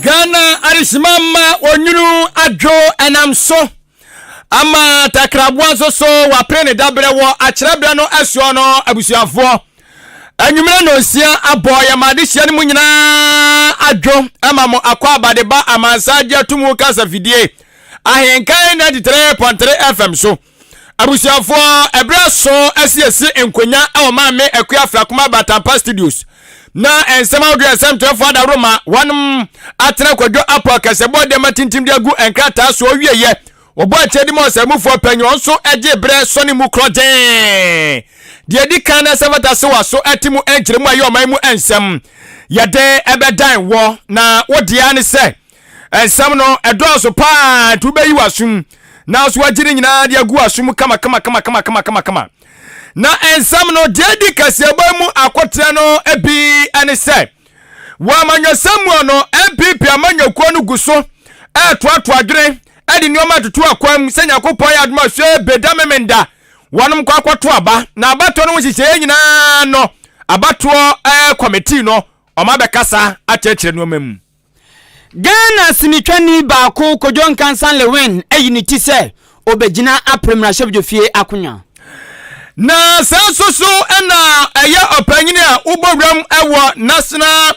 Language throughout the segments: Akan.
ghana adesimama onwunu adwo ɛnam so ama takraboa nso so wapere ne dabrɛ wɔ akyerɛberɛ no ɛsoɔ no abusuafoɔ anwummerɛ nonsia abɔ yɛ ma adehyia no mu nyinaa adwo ma mo akɔ abadeba amansa agye atum wo kasa fidie ahenkan na titire pɔntere fm so abusuafoɔ ɛberɛ so asiesie nkonya wɔ maame akua frakoma batampa studios na nsɛm ahodoɔ nsɛm twerɛfoɔ adaworo ma wɔnom atena kwadwo apɔ kasɛbɔ dɛma tintim de agu nkrataa so ɔwieyɛ Wɔbɔɔ akyɛde ma ɔsɛemufoɔ pɛ nyɛ ɔnso gye berɛ sɔne mu korɔgyee. Deɛ ɛdi kan na sɛ fata se waso ate mu nkyerɛ mu a ɛyɛ ɔman mu nsɛm yɛde bɛdan wɔ na wodeɛ ara ne sɛ nsɛm no ɛdɔɔso paa nti wobɛyi w'asom nanso wagye ne nyinaa de agu w'aso mu kama kama kama kama kama kama kama na nsɛm no deɛ di kaseɛbɔ mu akoteɛ no bi ne sɛ Wɔ amanyɔsɛm mu no, NPP amanyɔkuo no gu so retoatoa adwene de nneɛma retoto akwan mu sɛ Nyankopɔn ayɛ adom a sɛ Beda Memenda wɔnom kɔ akɔto aba. Na abatoɔ no ho nhyehyɛeɛ nyinaa no, abatoɔ kɔmitee no wɔabɛkasa akyerɛkyerɛ nneɛma mu. Ghana sinitwani baako Kojo Nkansah Lewin ayi ne ti sɛ obegyina Apre mmarahyɛbdwofie akonwa. Na saa nso so na ɛyɛ ɔpanyin a wobɔ wuram wɔ National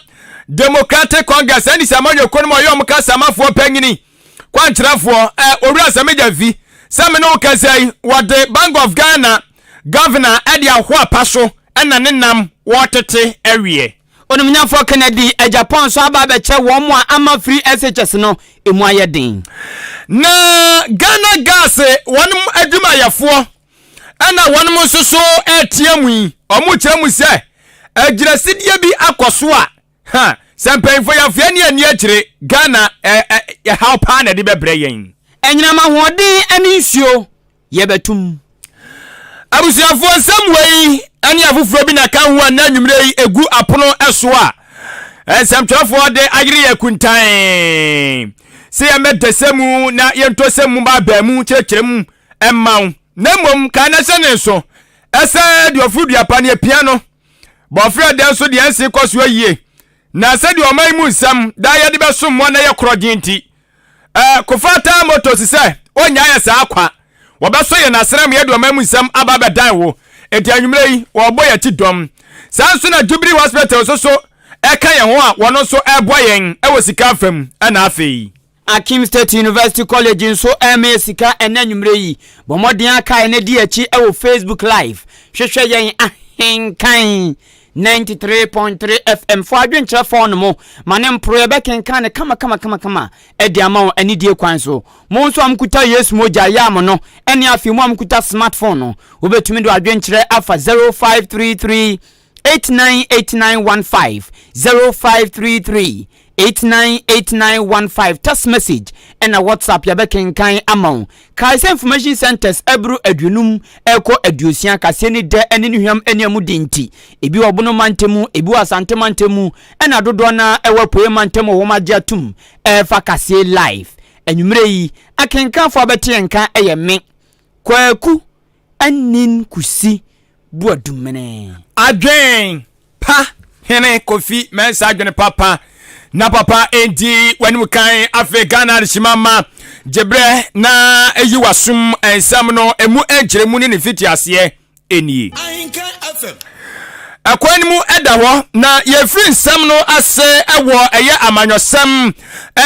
Democratic Congress, NDC amanyɔkuo no mu a ɔyɛ wɔn kasamafoɔ panyin, kwankyerɛfoɔ, eh, Owura Samija Vi. Sɛ me ne wo kasa yi, wɔde Bank of Ghana Governor de ahoa pa so na ne nam wɔretete awie. Onumnyamfoɔ Kennedy agyapong nso aba abɛkyɛ wɔn a ama free SHS no emu ayɛ den. Na Ghana Gas wɔn adwumayɛfoɔ na wɔn nso so retea mu yi, wɔkyerɛ mu sɛ agyinasidie bi akɔ so a, ha, sɛ mpanyinfoɔ yɛafeɛ ne ani akyire, Ghana ɛhaw paa na ɛde bɛbrɛ yɛn. Anyinam ahoɔden ne nsuo yɛbɛtom. Abusuafoɔ nsɛm wei ne afoforɔ bi na ka ho a na anwummerɛ yi ɛgu apono so a nsɛmtwerɛfoɔ de ayere yɛ kuntan sɛ yɛmmɛda sɛ mu na yɛntɔ sɛ mu baabaa mu kyerɛkyerɛ mu mma wo na mmom kaa na hyɛ ne nso ɛsɛ deɛ ɔforo dua pa ne apia no bɔfrɛ dɛn so deɛ nse kɔ so ayie na sɛdeɛ ɔman mu nsɛm daa yɛde bɛsom mu a na yɛ korɔgye nti Ɛɛ kofa taa moto si sɛ ɔnya yɛ saa kwa wɔbɛsɔ yɛn asram yɛde ɔman mu nsɛm aba bɛdan wo enti anwummerɛ yi wɔrebɔ yɛn ti dɔm saa nso na Jubilee Hospital nso so ɛka yɛn ho a wɔn nso ɛreboa yɛn wɔ sika afa mu ɛna afei Akim State University College nso ɛrema yɛ sika ɛnɛ anwummerɛ yi bɔ mmɔden akae na di akyi wɔ Facebook live hwehwɛ yɛn ahenkan 93.3 FM fo adwenkyerɛ fɔn no mo ma ne mporoeɛ bɛkenkan no kamakamakamakama de ama wɔn anidie kwan so. Mo nso a mokuta Yesu mogya yɛ a mo no ɛne afei mo a mokuta smartphone no wobɛtumi de adwenkyerɛ afa 0533 898915 0533 898915 text message ɛna WhatsApp yɛbɛkenkan ama wo. Kae sɛ information centres ɛboro aduonum ɛrekɔ aduosia kaseɛ ne dɛ ɛne ne hwam ɛne ɛmu den nti. Ebi wɔ Bono mantam mu, ebi wɔ Asante mantam mu ɛna dodoɔ no ara ɛwɔ Apueɛ mantam wɔ wɔn agye atom ɛrefa kaseɛ live. Anwummerɛ yi, akenkanfoɔ a bɛte yɛn nka ɛyɛ me, Kwaku anyin kusi boadumene. Adwen pa hene kofi mensah adwen papa na papa ndi wanim kan afei Ghana adehima ma gyebrɛ na yi wasum nsɛm no emu nkyerɛmu ne ne fiti aseɛ nie. Ɛkwan no mu da hɔ, na yɛfiri nsɛm no ase wɔ ɛyɛ amanyɔsɛm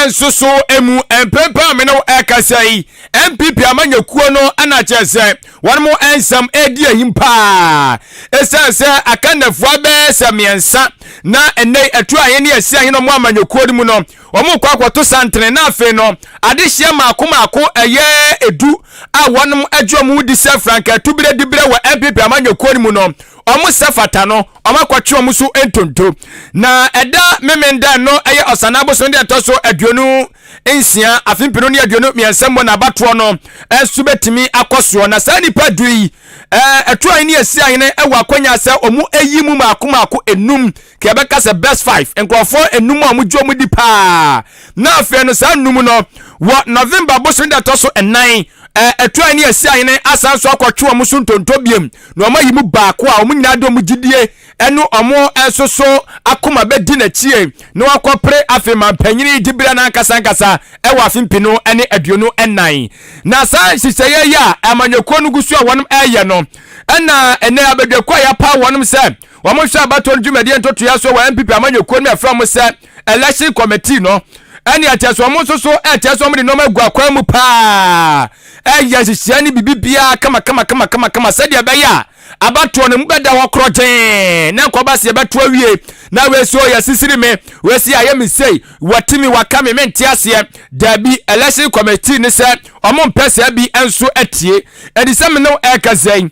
nso so mu. Mprempren a me ne ɛkasa yi, NPP amanyɔkuo no na kyerɛ sɛ wɔn mo nsɛm ɛredi ahim paa. Ɛsiane sɛ akandafoɔ bɛyɛ sɛ mmiɛnsa na ɛnɛ ɛto ahene ne ɛsi ahene ɔmo amanyɔkuo no mu no, Wɔkɔ akɔto santene na afei no adehyeɛ mmaako mmaako ɛyɛ edu a wɔn agye wɔn ho di sɛ frankaa tuberɛ diberɛ wɔ NPP amanyɔkuo no mu no wɔn sɛ fata no wɔn akɔtwe wɔn so ntonto na ɛda Memenda no ɛyɛ Ɔsannaa abosono deɛ ɛtɔ so aduonu nsia afe mpenu ne aduonu mmiɛnsa mu na abatoɔ no ɛso bɛtumi akɔ soɔ na saa nipa du yi ɛɛ ɛtoa ne ɛsi ahene ɛwɔ akɔnya sɛ wɔn ɛyi mu mmaako mmaako enum ka yɛbɛka sɛ best five nkurɔfoɔ enum a wɔgye wɔn di paa na afei no saa nnum no wɔ november bosome da ɛtɔ so nnan ɛturan ne asi ahene asan so akɔtwe wɔn so ntonto biem na wɔn ayi mu baako a wɔn nyinaa de wɔn gyidie ɛne wɔn nso so akoma bɛdi n'akyie na wakɔpere afei ma mpanyini gyibira no ankasa ankasa ɛwɔ afe mpino ne aduonu nnan na saa nhyehyɛeɛ yi a amanyɔkuo no gu so a wɔn ɛyɛ no ɛna ɛnɛ abadwakuo a yɛapa wɔn sɛ wɔhwɛ abatoɔ no dwumadie ntotoeɛ so wɔ npp amanyɔkuo no mu ɛfrɛ wɔn sɛ election committee no ɛne ɛkyɛ sɛ wɔn nso so ɛkyɛ sɛ wɔn de nneɛma agu akwan mu paa ɛyɛ nhyehyɛɛ ne biribi biara kamakamakamakama sɛdeɛ ɛbɛyɛ a abatoɔ no mu bɛda hɔ korɔgyee na nkɔba se yɛbɛto awie na wɛsi ɔyɛ sisiri me wɛsi ayɛ me sei wɔte me waka me mente aseɛ daabi election committee ne sɛ ɔmo mpɛ saa bi nso atie ɛdi sɛ me ne ɛka sɛn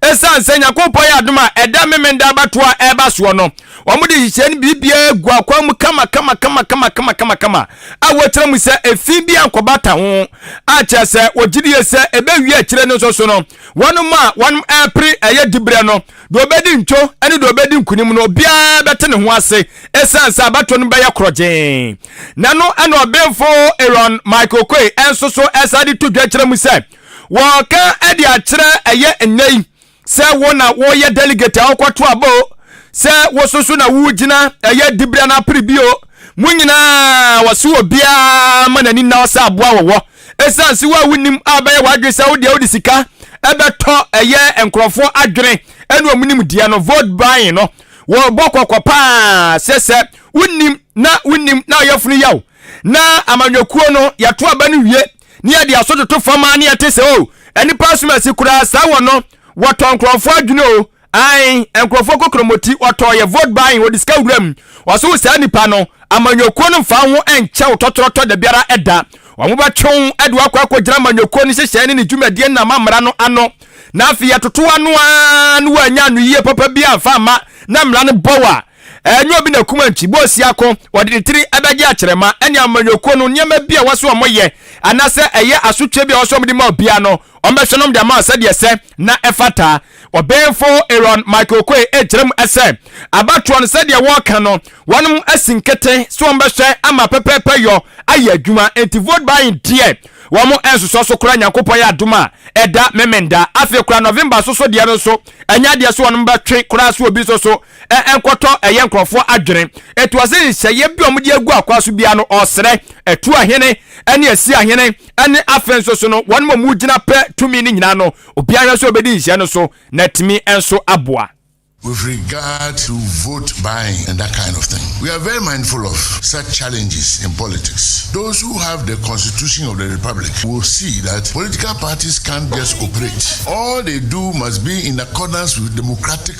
Esiane sɛ Nyankopɔn yɛ adom a ɛda memenda abatoɔ a ɛreba soɔ no, wɔn de nhyehyɛɛ no biribiara gu akwan mu kama kama kama kama kama kama kama a wɔkyerɛ mu sɛ efi bi ankɔbata ho a kyerɛ sɛ wɔgye die sɛ ɛbɛwie akyire no nso so no wɔn a wɔn ɛrepere ɛyɛ diberɛ no deɛ ɔbɛdi ntwo ne deɛ ɔbɛdi nkunim no obiara bɛte ne ho ase esiane sɛ abatoɔ no bɛyɛ korɔgyee na no ɛna ɔbenfo Aaron Michael Koi ɛnso so ɛsa de to dwa kyerɛ mu sɛ Wɔreka de akyerɛ ɛyɛ nnɛ yi sɛ wo na woyɛ delegate a wokɔto aba o, sɛ wo so so na wogyina ɛyɛ dibira no apere bi o, mo nyinaa wɔse obiara ma n'ani nna hɔ sɛ aboa wɔ hɔ. Esiane se wo a wonim a bɛyɛ w'adwene sɛ wo deɛ wode sika bɛtɔ ɛyɛ nkurɔfoɔ adwene ne wɔn nimdeɛ no, vote buying no, wɔrebɔ kɔkɔ paa sɛ sɛ wonim na wonim na ɔyafunu ya wo na amanyɔkuo no yɛto aba no wie ne yɛde aso toto fam a ne yɛte sɛ o oh, nnipa som asi koraa saa wɔ no wɔtɔ nkurɔfoɔ adwene o ae nkurɔfoɔ kokromoti wɔtɔ yɛ vote buying wɔde sika wura mu wɔso wo saa nnipa no amanyɔkuo no mfa ho nkyɛ wo tɔtorɔtɔ da biara ɛda wɔn bɛtwe wo ɛde wakɔ akɔgyina amanyɔkuo no hyehyɛe ne ne dwumadie nam amara no ano na afei yɛtoto ano a no wɔanya anoyie papa bi amfa ama na mmara no bɔ wo a Ɛnyɛ obi na kum Antwi, bɔ ɔsi ako, ɔde ne tiri bɛgye akyerɛma ne amanyɔkuo no nneɛma bi a ɛwɔ sɛ wɔyɛ anaasɛ ɛyɛ asotweɛ bi a ɛwɔ sɛ wɔde ma obiara no, wɔbɛhwɛ na wɔde ama wɔn sɛdeɛ ɛsɛ na ɛfata. Ɔbenfo Aaron Michael Okoye rekyerɛ mu sɛ, abatoɔ no sɛdeɛ wɔka no, wɔnom asi nkete sɛ wɔbɛhwɛ ama pɛpɛɛpɛ yɔ ayɛ adwuma, enti vote buying deɛ wɔn nsosɔ so koraa, Nyankopɔn yɛ adom a ɛda Memenda, afei koraa November nso so deɛ no nso, ɛnyɛ adeɛ sɛ wɔnom bɛtwe koraa sɛ obi nso so ɛnkɔtɔ ɛyɛ nkurɔfoɔ adwene. Ɛtoa sɛ nhyehyɛeɛ bi a wɔde agu akwan so biara no, ɔsrɛ, atuo hene ne asia hene ne afe nso so no, wɔn a wɔgyina pɛ tumi no nyinaa no, obiara hwɛ sɛ ɔbɛdi nhyehyɛeɛ no so na atumi nso aboa. With regard to vote buying and that kind of thing, we are very mindful of such challenges in politics. Those who have the constitution of the republic will see that political parties can't just operate. All they do must be in accordance with democratic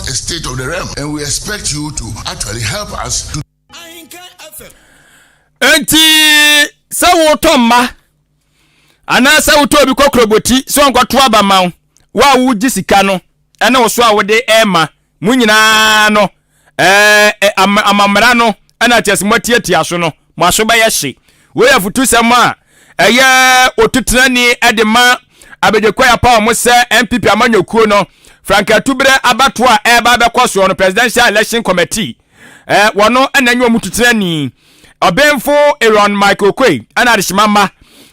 a state of the realm and we expect you to actually help us to nti sɛ wotɔ mma anaasɛ wotɔ obi kɔkorɔbɔti sɛ ɔnkɔto aba ma wo wo a wogye sika no ɛne wo so a wode ɛma mo nyinaa no amammara no ɛna kyɛ sɛ moatiatia so no Mo aso bɛyɛ hye. Wei yɛ afutusɛm a ɛyɛ otutrani de ma Abedwe Koyapa a wɔsɛ NPP amanyɔkuo no Frank Atuberɛ abatoɔ a ɛreba abɛkɔ soɔ no Presidential Election Committee eh, wɔn na nye wɔn tutrani ɔbenfo Aaron Michael Okoye ɛna adehyema mma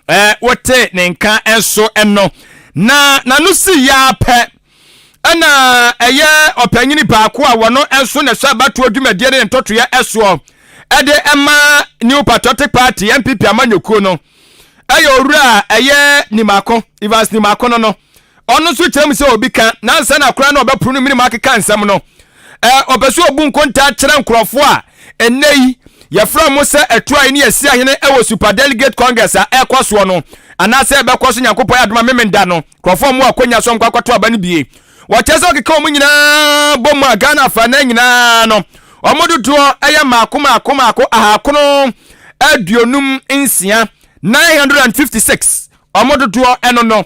eh, wote ne nka nso ɛno na n'ano si ya pɛ Ɛna ɛyɛ ɔpanyini baako a wɔno nso na ɛsɛ abatoɔ dwumadie ne ntɔtoeɛ ɛsoɔ ɛde ɛma New Patriotic Party NPP amanyɔkuo no ɛyɛ owura a ɛyɛ Nimako Evans Nimako no no ɔno nso kyerɛ mu sɛ obi ka nansa na koraa na ɔbɛporo no minimu akeka nsɛm no ɔpɛ sɛ ɔbu nkontaa kyerɛ nkurɔfoɔ a ɛnnɛ yi yɛfrɛ mo sɛ atuae ne yɛsi ahene ɛwɔ super delegate congress a ɛkɔ soɔ no anaasɛ ɛbɛkɔ so nyankopɔn adoma memenda no Nkurɔfoɔ a wɔwɔ akwannya so nkɔ akɔto aba no bi. Wɔkyerɛ sɛ wɔkeka wɔn nyinaa bɔ mu a, Ghana afanan nyinaa no, wɔn dodoɔ yɛ mmaako mmaako mmaako ahakono aduonum nsia, 956, wɔn dodoɔ no no.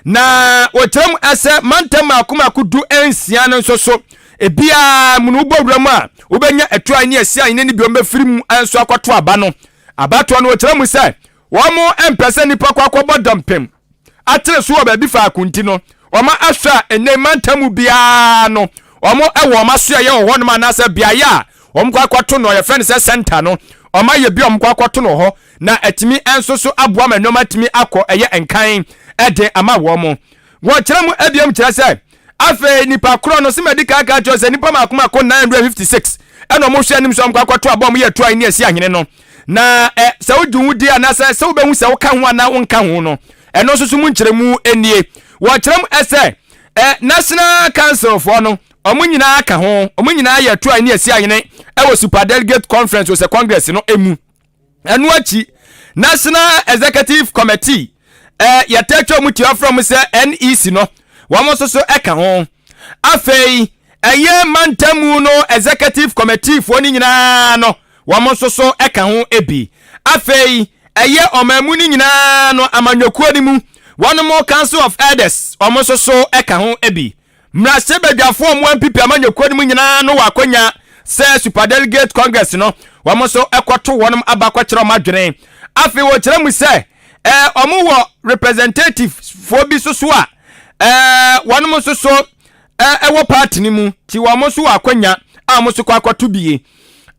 Na wɔkyerɛ mu sɛ mantam mmaako mmaako du nsia no nso so, ebiara mu no wobɔ wura mu a, wobɛnya atuae ne asiane ne ne bi wɔbɛfiri mu nso akɔto aba no. Abatoɔ no wɔkyerɛ mu sɛ wɔn mpɛ sɛ nnipa kɔ akɔbɔ dɔmpem. atere so wɔ baabi faako nti no, wɔahwɛ a ɛnɛ mantam mu biara no wɔwɔ wɔn asoɛeɛ wɔ hɔnom anaasɛ beaeɛ a wɔkɔ akɔto no yɛfrɛ no sɛ sɛnta no wɔayɛ bi a wɔkɔ akɔto no hɔ na atumi nso so aboa ma nneɛma atumi akɔ ɛyɛ nkan ɛde ama wɔn wɔkyerɛ mu abiam kyerɛ sɛ afei nipa korɔ no sɛ madi kan ka kyerɛ sɛ nipa mako mako 956 ɛna wɔhwɛ anim sɛ wɔkɔ akɔto abɔ wɔn yɛ toa ne asi ahene no na ɛ sɛ wogye wo di anaasɛ sɛ wobɛhu sɛ woka ho anaa wonka ho no ɛno nso so mu nkyerɛmu nie wɔkyerɛ mu sɛ ɛ national council foɔ no wɔn nyinaa ka ho wɔn nyinaa yɛ toa ne asi ayene ɛwɔ super delegate conference sɛ congress no mu ɛno akyi national executive committee ɛ yɛtɛtwa mu tua frɛ mu sɛ nec no wɔn nso so ɛka ho afei ɛyɛ mantamu no executive committee foɔ no nyinaa no Wɔn nso so ka ho bi. Afei ɛyɛ ɔman mu no nyinaa no amanyɔkuo no mu wɔnom Council of Elders, wɔn nso so ka ho bi. Mmarahyɛbadwafoɔ a wɔampipi amanyɔkuo no mu nyinaa no wɔ akwanya sɛ Superdelegate Congress no, wɔn nso kɔto wɔnom aba kɔkyerɛ wɔn adwene. Afei wɔkyerɛ mu sɛ ɛɛ wɔn wɔ representatives foɔ bi nso so a ɛɛ wɔnom nso so ɛɛ ɛwɔ party no mu, nti wɔn nso wɔ akwanya a wɔn nso kɔ akɔto bie.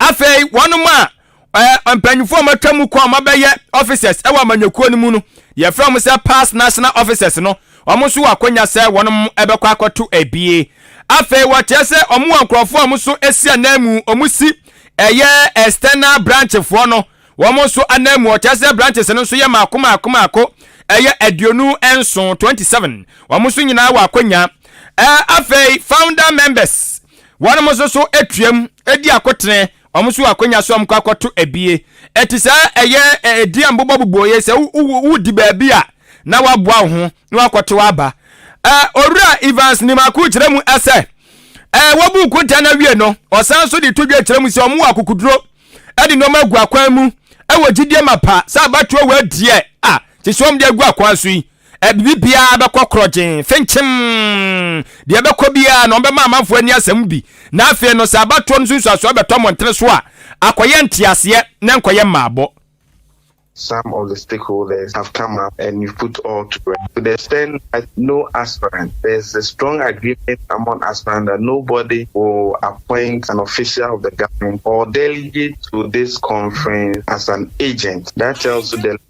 afei wɔnom a ɛɛ mpanyinfoɔ a wɔatwa mu kɔ a wɔabɛyɛ officers ɛwɔ amanyɔkuo no mu no yɛfrɛ wɔn sɛ past national officers no wɔn nso wɔ akonya sɛ wɔnom ɛbɛkɔ akɔto abie afei wɔkyerɛ sɛ wɔn wɔ nkurɔfoɔ a wɔn nso esi anan mu wɔn si ɛyɛ external branchfoɔ no wɔn nso anan mu wɔkyerɛ sɛ branches no nso yɛ maako maako maako ɛyɛ aduonu nson twenty seven wɔn nso nyinaa wɔ akonya ɛɛ afei founder members Wɔnom nso so tuam di akotene, wɔn nso wɔ akwanya sɛ wɔkɔ akɔto abie. Ɛte saa ɛyɛ ɛdi a mbobɔ bobɔ yɛ sɛ wodi baabi a na waboa wo ho na wakɔtow aba. Owura Evans nim akow kyerɛ mu sɛ, Wɔbuu kuntaa no awie no, ɔsan nso de to dwa kyerɛ mu sɛ wɔwɔ akokoduro de nneɛma agu akwan mu wɔ gyidie mapa sɛ abatoɔ wɔ adiɛ a te sɛ wɔde agu akwan so yi. Biribi biara bɛkɔ korɔgyenn, fenkyem! Deɛ ɛbɛkɔ biara no, wɔbɛma amanfoɔ ani asɛ mo bi. Na afei no, sɛ abatoɔ no nsunsuasoɔ bɛtɔ mmɔntene so a, akɔyɛ nteaseɛ, na ɛnkɔyɛ mmaabɔ. Some of the stakeholders have come up and we've put all to rest to the extent that no aspirant, there's a strong agreement among aspirants that nobody will appoint an official of the government or delegate to this conference as an agent. That tells you the.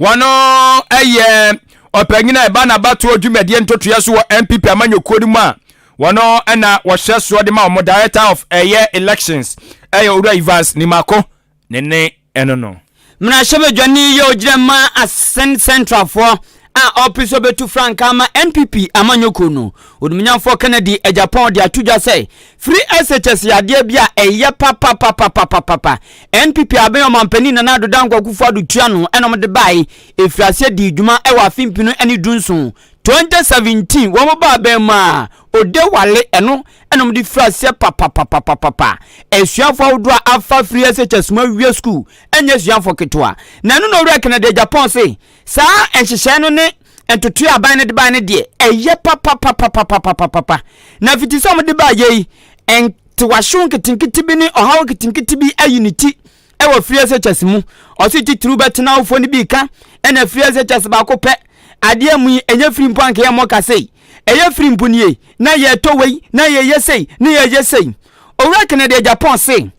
Wɔyɛ ɔpanyin a ɛba n'abatoɔ dwumadie ntotoeɛ so wɔ NPP amanyɔkuo no mu a wɔno na wɔhyɛ soɔ de ma wɔn Director of ɛyɛ Elections ɛyɛ Owura Evans Nimako ne ne ɛno no. Mmarahyɛbadwani yi a ɔgyina ma Asen Central foɔ a ɔrepe sɛ ɔbɛtu frankaa ama NPP amanyɔkuo no, Onimnyanfoɔ Kennedy Agyapong de ato dwa sɛ Firi SHS yɛ adeɛ bi a ɛyɛ papapapapapapa. NPP aben ɔmanpanin Nana Addo Dankwa Akufo-Addo tua ano na wɔde baeɛ. Ɛfirii aseɛ dii dwuma wɔ afe mpenu ne du nson, 2017, wɔn baa abɛn mu a, Odewale, ɛno na wɔde firii aseɛ papapapapapa. Asuafoɔ ahodoɔ a afa afiri SHS mu awie sukuu nyɛ asuafoɔ ketewa. Na ɛno na Owura Kennedy Agyapong se, saa nhyehyɛe no ne. ntotoe a aban no de bae no deɛ, ɛyɛ papapapapapapapa. Na afiti sɛ wɔde baeɛ yi, ntewahyew nketenkete bi ne ɔhaw nketenkete bi ayi ne ti wɔ free SHS mu. Ɔse titiriw bɛtena awofoɔ no bi ka, ɛna free SHS baako pɛ. Adeɛ mu yi, ɛnyɛ firi mpo anka yɛmmɔ ka sei. Ɛyɛ firi mpo nie, na yɛtɔ wei, na yɛyɛ sei, na yɛyɛ sei. Owura Kennedy Agyapong se,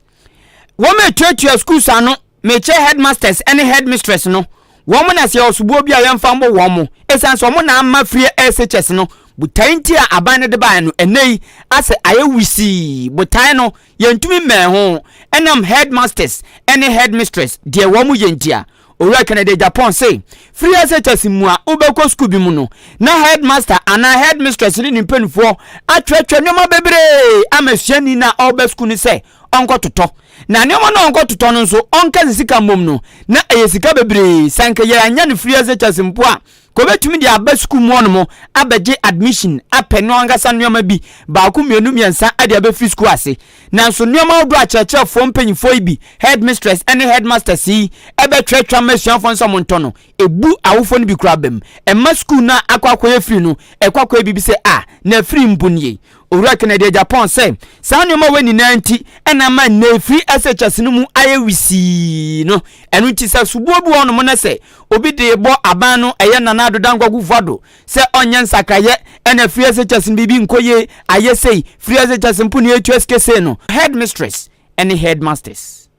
wɔatuatua schools ano Mekyɛ headmasters ne headmistress no wɔn na sɛ ɔsoboɔ bi a yɛmfa mmɔ wɔn mo ɛsiane sɛ wɔn na ama frie SHS no botae nti a aban no de baeɛ no ɛnnɛ yi asɛ ayɛ wisii botae no yɛntumi mmɛn ho ɛnam headmasters ne headmistress deɛ wɔn mo yɛ nti a Owura Kennedy Agyapong se frie SHS mu a wobɛkɔ sukuu bi mu no na headmaster anaa headmistress ne ne mpanimfoɔ atwerɛtwerɛ nneɛma bebree ama suani no a ɔreba sukuu no sɛ ɔnkɔtotɔ na nneɛma no a ɔnkɔtotɔ no nso ɔnka ne sika mmom no na ɛyɛ sika bebree sɛ anka yɛanya no firi SHS mpo a ka obɛtumi de aba sukuu mu hɔnom abɛgye admission apɛ no ankasa nneɛma bi baako mmienu mmiɛnsa de abɛfiri sukuu ase nanso nneɛma ahodoɔ a kyerɛkyerɛfoɔ mpanyifoɔ yi bi headmistress ne headmasters yi ɛbɛtwerɛtwerɛ ama asuafoɔ no sɛ montɔ no ɛbu awofoɔ no bi koraa bam ɛma sukuu no a akɔ akɔyɛ firi no ɛkɔ akɔyɛ biribi sɛ a na afiri mpo nie Owura Kennedy agya Pond sɛ, Saa nneɛma wei nyinaa nti na ama nnɛ efiri SHS no mu ayɛ wisii no. Ɛno nti sɛ soboɔ bi wɔ hɔnom na sɛ obi de rebɔ aban no ɛyɛ Nana Addo Dankwa Kuffo Addo sɛ ɔnyɛ nsakraeɛ na afiri SHS no biribi nkɔ yie, ayɛ sei, firi SHS mpo na yɛtua sika sei no. Headmistress ne Headmasters.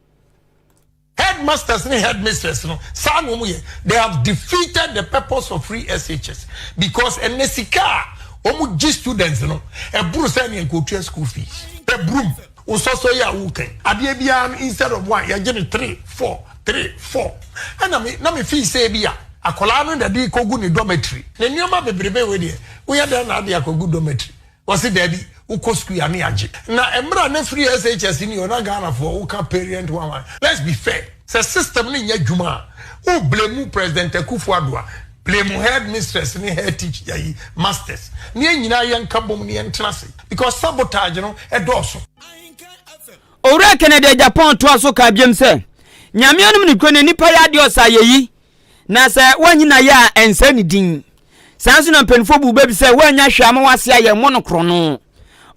Headmasters ne headmistress no saa na wɔn yɛ they have defeated the purpose of free SHS because ɛnɛ sika a wɔn gye students no ɛboro sɛ nea nka otua school fees. Ɛbrom wo sɔsɔ yi a wo kan adeɛ biara no instead of one yɛgye no three four three four ɛna me na me feel sɛ ebi a akwadaa no na ɛde rekɔ gu ne dormitory. Ne nneɛma bebrebe wei deɛ woyɛ dɛn na ade akɔ gu dormitory Ɔse daabi wokɔ school yɛ ano yagye na ɛmra na firi SHS ni o na Ghana foɔ woka parent one one let's be fair sɛ system no nyɛ dwuma a wo blame president Akufo Addo a blame head mistress ne head teach yayi masters ne yɛn nyinaa yɛn ka bom ne yɛn tena ase because sabotage no ɛdɔɔso. Owura Kennedy Agyapong toa so kaa biom sɛ, Nyame anom nokorɛ no nnipa yɛ adeɛ ɔsɛ ayɛyi. Na sɛ woanyi no ayɛ a, ɛnsɛ ne din. Saa nso na mpanyinfoɔ bu bɛ bi sɛ woannya hwee ama w'ase ayɛ mmɔ no korɔno.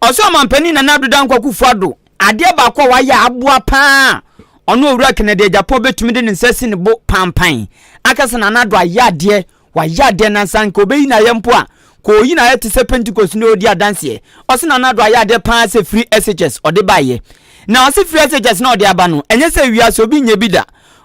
Ɔsoro Ɔmampanin Nana Addo Dankwa Akufo-Addo, adeɛ baako a wayɛ a aboa pa ara a ɔne Owura Kennedy Agyapong bɛtumi de ne nsa asi ne bo panpan aka sɛ Nana Addo ayɛ adeɛ, wayɛ adeɛ na sɛ anka ɔbɛyi no ayɛ mpo a, nka ɔyi no ayɛ te sɛ Pentecost no ɔredi adanseɛ. Ɔse Nana Addo ayɛ adeɛ pa ara sɛ firi SHS ɔde baeɛ. Na ɔse firi SHS no a ɔde aba no, ɛnyɛ sɛ wiase obi nyɛ bi da.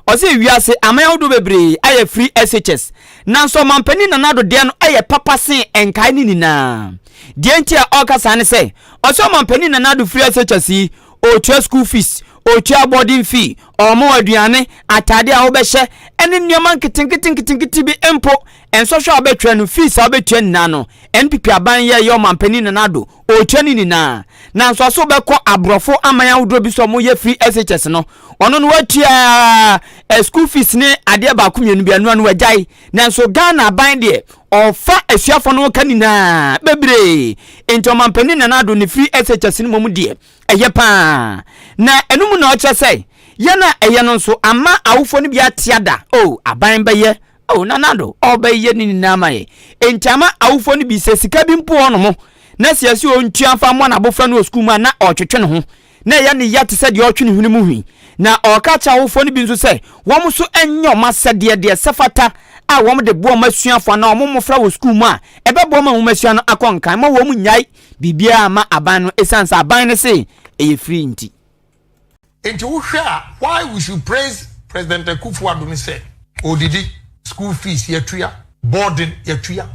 Ɔse wiase aman ahodoɔ bebree ayɛ free SHS nanso ɔmanpanin Nana Addo deɛ no yɛ papa sen nkae no nyinaa. Deɛ nti a ɔreka saa ne sɛ ɔse ɔmanpanin Nana Addo free SHS yi, ɔretua school fees, ɔretua boarding fee, ɔrema wo aduane, ataadeɛ a wobɛhyɛ ɛne nneɛma nketenketenketenkete bi mpo. Nsɔhwɛ a wobɛtwerɛ no, fees a wobɛtua nyinaa no, NPP aban yɛɛyɛ ɔmanpanin Nana Addo ɔrekyɛ ne nyinaa nanso ɔse wobɛkɔ aborɔfo aman ahodoɔ bi so a wɔyɛ free SHS no ɔno no watua eh, school fees ne adeɛ baako mmienu bi ɛnoa no wagyae nanso Ghana aban deɛ ɔfa asuafoɔ no ka nyinaa bebree nti ɔmampanin Nana Addo ne free SHS no mmom deɛ ɛyɛ paa na ɛno mu na ɔkyerɛ sɛ yɛn a ɛyɛ no nso ama awofoɔ no bi atea da o oh, aban bɛyɛ Oh nana do ɔbɛ yɛ ne nyinaa ma yɛ nti ama awofo no bi sɛ sika bi mpo wɔ hɔnom na sɛ yɛse ɔntua mfa mmoa n'abofra no wɔ sukuu mu a na ɔretwetwe ne ho na ɛyɛ ne ya te sɛ deɛ ɔretwe ne hwene mu hwi na ɔreka kyerɛ awofo no bi nso sɛ wɔn nso nyɛ wɔn asɛdeɛ deɛ sɛ fata a wɔn de boa wɔn asuafo anaa wɔn mmofra wɔ sukuu mu a ɛbɛboa ma nwomasua no akɔ nkan ma wɔn nnyae biribiara ma aban no ɛsiane sɛ aban no se ɛyɛ free nti. Nti wohwɛ a why we should praise President Akuffo Addo ne sɛ ɔredidi, school fees yɛtua, boarding yɛtua.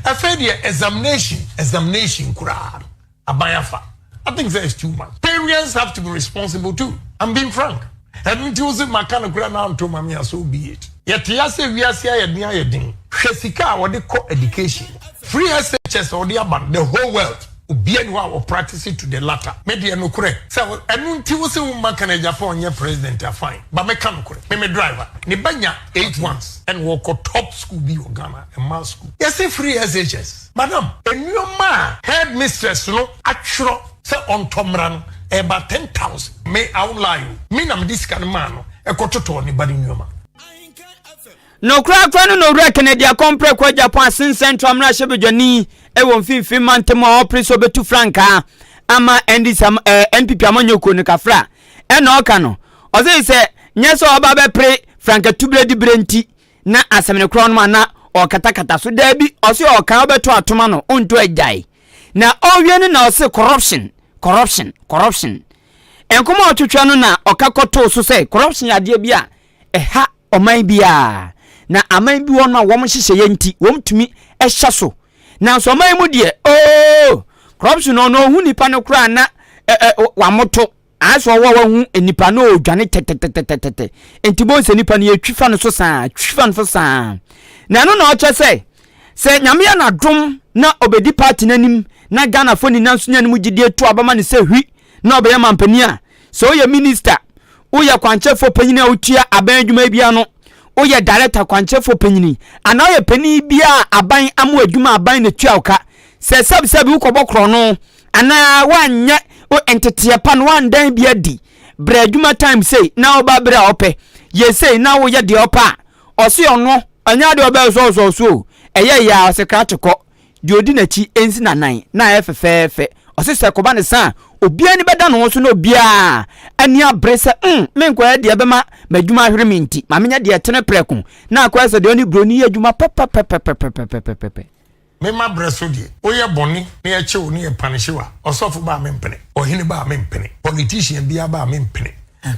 Afei deɛ examination, examination koraa no aban afa. I think sɛ it's too much. Parents have to be responsible too. I'm being frank. Ɛno nti wo se maka no koraa na anto ma me a, so be it. Yɛte ase wiase ayɛ den ayɛ den. Hwɛ sika a wɔde kɔ education. Free SHS a wɔde aba no the whole world. Obia ni hɔ a wɔ practice to the latter me deɛ nokorɛ sɛ ɛno nti wose wo mma kan agya fa ɔnyɛ president a fine ba me ka nokorɛ me me driver ne ba nya eight ones ɛna wɔkɔ top school bi wɔ Ghana mmaa school yɛse free SHS madam nneɛma a head mistress no atwerɛ sɛ ɔntɔ mmra no ɛyɛ ba ten thousand me I won't lie o me na mede sika no maa no ɛkɔ totɔɔ ne ba no nneɛma. No korakora no na Owura Kennedy akɔmpere kɔɔ Japan asen Central mmarahyɛbadwani wɔ Mfinimfini Mantam mu a ɔrepere sɛ obetu frankaa ama NDC am, eh, NPP amanyɔkuo no kafra. Ɛna ɔka no, ɔse sɛ nyɛ sɛ ɔreba abɛpere frankatubere de bere nti na asɛm no korɔ no ma na ɔrekatakata so. Daabi, ɔse ɔreka, ɔbɛto atom ano, ɔntu agyae. Na ɔrewie no na ɔse corruption, corruption, corruption. Nkɔmmɔ a ɔtwetwe no na ɔka kɔtoo so sɛ corruption yɛ adeɛ bi a ɛha ɔman bi a na aman bi wɔ no a wɔn nhyehyɛeɛ nti wɔn tumi hyɛ so nanso ɔman yi mu deɛ oo corruption no ɔno ɔhu nipa no koraa na ɛ ɛ wamoto ayɛ sɛ ɔwɔ wahu nipa no ɔredwane tɛtɛtɛtɛtɛtɛ nti bɔn sɛ nipa no yɛtwi fa no so saa twi fa no so saa na ɛno na ɔkyɛ sɛ sɛ nyame yɛ n'adom na ɔbɛdi party no anim na ghanafoɔ nyinaa nso nya no mu gyidie to abama no sɛ hwi na ɔbɛyɛ mampanin a, sɛ woyɛ minista, woyɛ kwankyɛfoɔ panyin a wotua aban adwuma bi ano, woyɛ darekta kwankyɛfoɔ panyin, anaa woyɛ panyin bi a aban ama adwuma aban na tua wo ka, sɛ sɛbsɛbi wokɔbɔ korɔno anaa woanyɛ wo nteteɛ pa na woandan bi adi, brɛ adwuma time sei na woba berɛ a ɔpɛ, yɛ sei na woyɛ deɛ ɔpɛ a, ɔse ɔno, ɛnyɛ adeɛ ɔbɛsɔɔsɔɔ so o, ɛyɛ yɛ a ɔse krakye kɔ. deɛ ɔdi n'akyi nsi n'anan na ayɛ fɛfɛɛfɛ. Ɔse sɛ ɛkɔba ne sa a, obiara ani bɛda ne ho so na obiara ani abere sɛ mm, menkɔyɛ deɛ ɛbɛma m'adwuma ahwere me nti, ma menyɛ deɛ ɛtene prɛko na akɔyɛ sɛ deɛ ɔne buroni yɛ adwuma papa pɛpɛpɛpɛpɛpɛpɛpɛpɛ. Me ma berɛ so deɛ, woyɛ bɔne na yɛkye wo na yɛ panish wo a, ɔsɔfo ba a mempene, ɔhene ba a mempene, politician biara ba a mempene,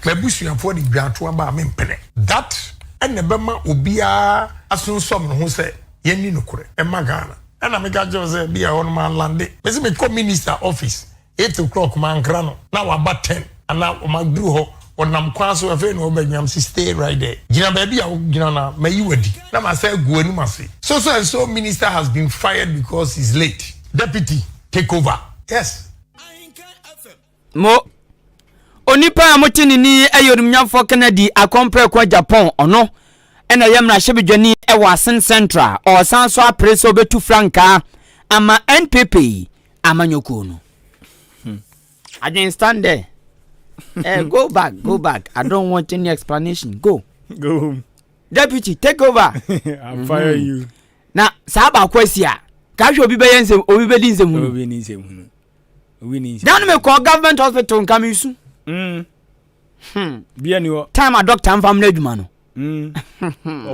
m'abusuafoɔ ne dwaatoa ba a mempene. That na ɛbɛma obiara asunsum ne ho sɛ, yɛnni nokorɛ mma Ghana. Ɛna meka kyerɛ wo sɛ bi a ɛhɔ no manlande. Mese mekɔ minister office eight o'clock mankra no na waba ten anaa maduru hɔ ɔnam kwan so afei na ɔbɛgyina mese stay right there gyina baabi a wogyina no a mayi w'adi na masan agu w'anim ase so so and so minister has been fired because he's late deputy take over yes. Mo, onipa a mote ne ni yɛ onimnyamfoɔ Kennedy Akompɔɛkua Japan ɔno na ɛyɛ mmarahyɛbadwani wɔ Asin Central ɔresan nso apere sɛ ɔbɛtu frankaa ama NPP amanyɔkuo no. Hmm. Adwene stand there. eh, go back, go back. I don't want any explanation. Go. Go home. Deputy, take over. I'm mm-hmm. fire you. Na saa baako asi a, ka hwɛ obi bɛyɛ nsɛm, obi bɛdi nsɛm hunu. Obi ni nsɛm hunu. dane me kɔɔ government hospital nka me su mm. hmm. time a doctor mfa mna adwuma no mm.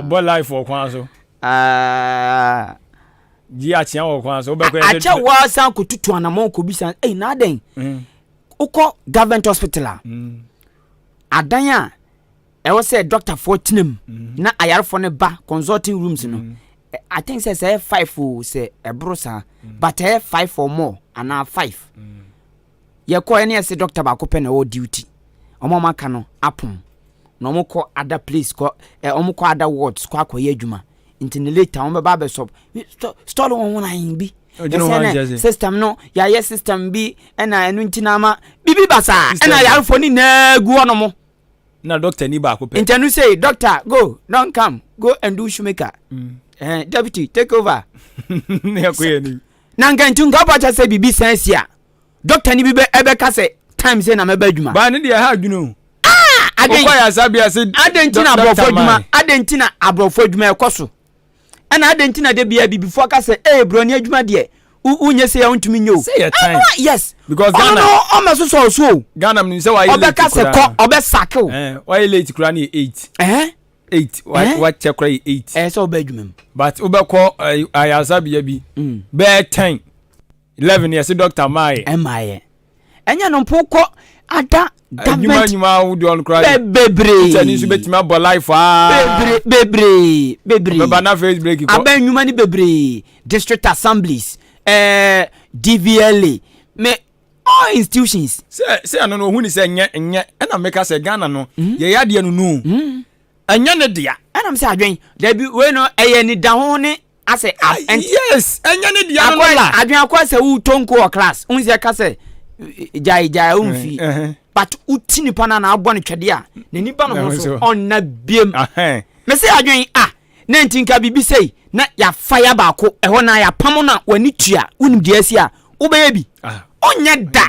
ɔbɔ life wɔ kwan so ah. gye akyea wɔ kwan so akyɛ woa san kɔtutu anamɔ kɔbisa ei na adɛn mm. wokɔ government hospital a adan a Ɛwɔ sɛ dɔktafoɔ tena mu mm-hmm. na ayarefoɔ no ba consulting rooms no. Mm-hmm. I think sɛ sɛ ɛyɛ five o sɛ ɛboro saa mm-hmm. but ɛyɛ five or more anaa five. Yɛkɔ ɛne ɛsɛ dɔkta baako pɛ na ɛwɔ duty. Wɔn a wɔaka no apom na wɔn kɔ other place kɔ ɛ wɔn kɔ other wards kɔ akɔyɛ adwuma nti ne later wɔn bɛba abɛsɔ stɔl wɔn ho nan bi ɛsɛ system no yɛayɛ system bi ɛna ɛno nti na ama bibi basaa ɛna yarefo ne nyinaa gu hɔ nom na dɔkta ni baako pɛ. ntɛnu sei dɔkta go don come go and do shoemaker mm. eh, deputy take over. ne ɛkɔ yɛ ni. na nka nti nka ɔbɔ kyɛ sɛ biribi san si a dɔkta ni bi bɛ ɛbɛka sɛ time sɛ na mɛba adwuma. baa ne deɛ ɛha adwene o. Ah, adɛn nti na aborɔfo adwuma adɛn nti na aborɔfo adwuma ɛkɔ so. Ɛna adɛn nti na da biara bibifoɔ ka sɛ ee broni adwuma deɛ wonyɛ sei a wontumi nyɛ o. Sɛ yɛ time. Ɛno yes. Because Ghana. Ɔno no ɔmɛ so sɔɔ so o. Ghana mu sɛ wayɛ late koraa. Ɔbɛka sɛ kɔ ɔbɛ sake o. Eh, wayɛ late koraa ne yɛ eight. Ɛhɛn. Eh? Eight wakyɛ eh? koraa yɛ eight. Ɛyɛ sɛ ɔbɛ adwuma mu. But wobɛkɔ eh, ayaresabea bi mm. bɛyɛ ten. 11 yɛse doctor maayɛ ɛmaayɛ ɛnyɛ no mpo kɔ ada government adwuma ahodoɔ no koraa bebree teacher ni nso bɛtumi abɔ life aa bebree bebree bebree bɛba na face break kɔ abɛn nnwuma no bebree district assemblies ɛɛ dvla me all institutions sɛ sɛ ɛno no ɔhu ne sɛ nyɛ nyɛ ɛna meka sɛ ghana no hmm? yɛyɛ adeɛ no nu hmm? ɛnyɛ ne dea ɛnam sɛ adwen dabi wei no ɛyɛ nidaho ne asɛ ah, ab ɛnti yes ɛnyɛ ne deɛ no la adwene akɔ sɛ wotɔ nko wɔ class wohu sɛ ɛka sɛ gyae gyae womfi eh, eh, eh. but woti nipa no na abɔ no twɛdeɛ a n'ani ba no ho so ɔnna biam me sɛ adwene a na nti nka biribi sei na yɛafa yɛ baako ɛhɔ na yɛapam no a w'ani tua wonim deɛ asi a wobɛyɛ bi ah. ɔnyɛ da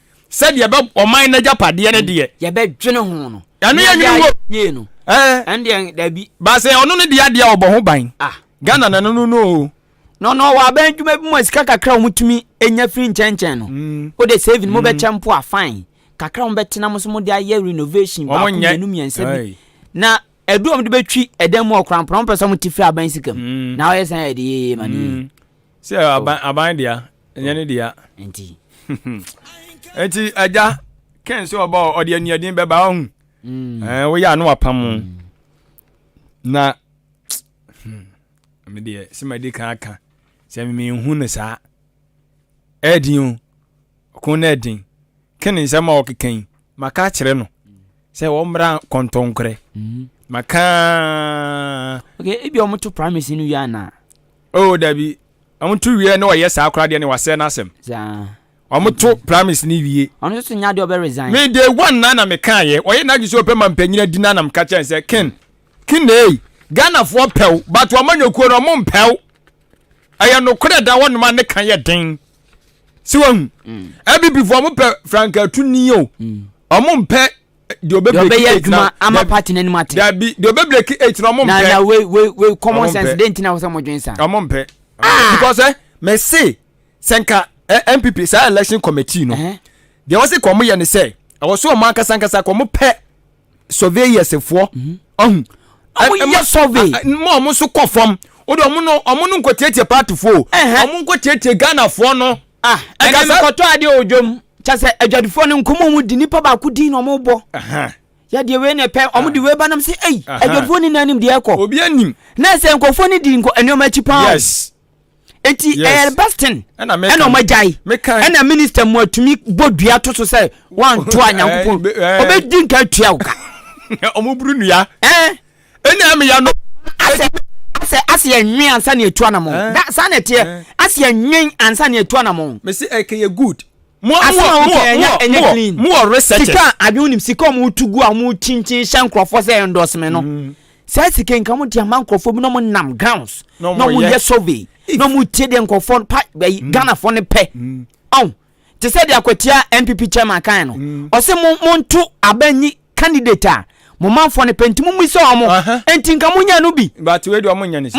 sɛdeɛ ɛbɛ ɔman n'agyapadeɛ no deɛ. yɛbɛdwene ho no. ɛno yɛ nwene wɔ. yie no. ɛɛ ɛndeɛ dabi. baasɛ ɔno no deɛ adeɛ ɔbɔ ho ban. ah ghana na no no no o. na ɔno ɔwɔ abɛn adwuma bi mu a sika kakra a wɔtumi nya firi nkyɛnkyɛn no. Mm. o de saving mo bɛ mm. kyɛn po a fine kakra wɔn bɛ tena mo so mo de ayɛ renovation baako mmienu mmiɛnsa bi na ɛdu wɔn de bɛtwi ɛdan mu ɔkora mpɔnpɔn sɛ wɔn ti firi aban sika mu mm. na ɔyɛ sɛn yɛ de yeye ma ne yeye. sɛ aban aban dea ɛnyɛ ne dea nti nti agya kɛn sɛ ɔba ɔde anuadin bɛba ɔhu mm. eh, woyɛ ano apam mm. na hmm, medeɛ sɛ madi kan aka sɛ memehu no saa ɛdin o Ɔko no yɛ den. Ken nsɛm a ɔkeka yi, maka akyerɛ no sɛ wɔmmra kɔntɔnkorɛ. Mm-hmm. Maka. Okay, ebi a wɔto primacy no wia na. Oh, dabi. Wɔto wia na wɔyɛ saa koraa deɛ ne wasɛ n'asɛm. Saa. wɔto primaries ne wie ɔno nso nya deɛ ɔbɛ resign me day one na na meka yɛ ɔyɛ n'adwe sɛ ɔpɛ ma mpanyin adi na na meka kyɛn sɛ ken ken na eyi ghanafoɔ pɛw but wɔn anyokuo no wɔn mpɛw ɛyɛ nokorɛ da wɔnom a ne ka yɛ den si wahu mm. abibifo ɔmo pɛ frankatu ni o mm. ɔmo mpɛ deɛ ɔbɛ breki eight na ama party n'anim ate dabi deɛ ɔbɛ breki eight na ɔmo mpɛ na na wei wei wei common sense de ntina wɔsɛ ɔmo dwen sa ɔmo mpɛ ah! because ɛ eh, mɛ se sɛ nka ɛ eh, npp saa election committee no deɛ wɔsi kɔn mo yɛ ne sɛ ɛwɔ so ɔmo ankasa ankasa kɔn mo pɛ. surveyersfoɔ mhm. ɔhu ɛma survey ma ɔmo nso kɔ fam o de ɔmo no ɔmo no nkɔtiatia paatifoɔ o ɔmo nkɔtiatia ghanafoɔ no. ah ɛnna mekɔtɔ adeɛ wɔ dwom kyɛ sɛ adwadifoɔ no nkɔmɔ mu di nipa baako din na ɔmo bɔ yɛdeɛ wei na ɛpɛ ɔmo de wei ba nam sɛ ei adwadifoɔ ni na anim deɛ ɛkɔ obi anim na ɛsɛ nkɔfoɔ no di nneɛma akyi paa yes enti ɛyɛ the best thing ɛna ɔmo agyae ɛna minister mu atumi bɔ dua to so sɛ wanto a nyankopɔn ɔbɛdi nka atua wo ka ɔmo buru nua ɛna ɛmeya no asɛ asɛ asɛ ɛnwen ansa ne atua namɔ saa na ɛteɛ asɛ ɛnwen ansa ne atua namɔ mesi ɛkɛyɛ good mu wɔ research sika adwene nim sika ɔmo tu gu a ɔmo kyinkyin hyɛ nkorɔfoɔ sɛ ɛndɔseme no mm. saa sika yi nka wɔn de ama nkurɔfoɔ bi na wɔn nam grounds na wɔn yɛ survey na wɔn tie deɛ nkurɔfoɔ pa ɛyi mm. ghanafoɔ no pɛ mm. ɔn te sɛ deɛ akwatia npp chairman kan no mm. ɔsɛ mo mo nto abanyi candidate a mo manfoɔ no pɛ nti mo mu sɛ wɔn nti nka mo nyɛ no bi mo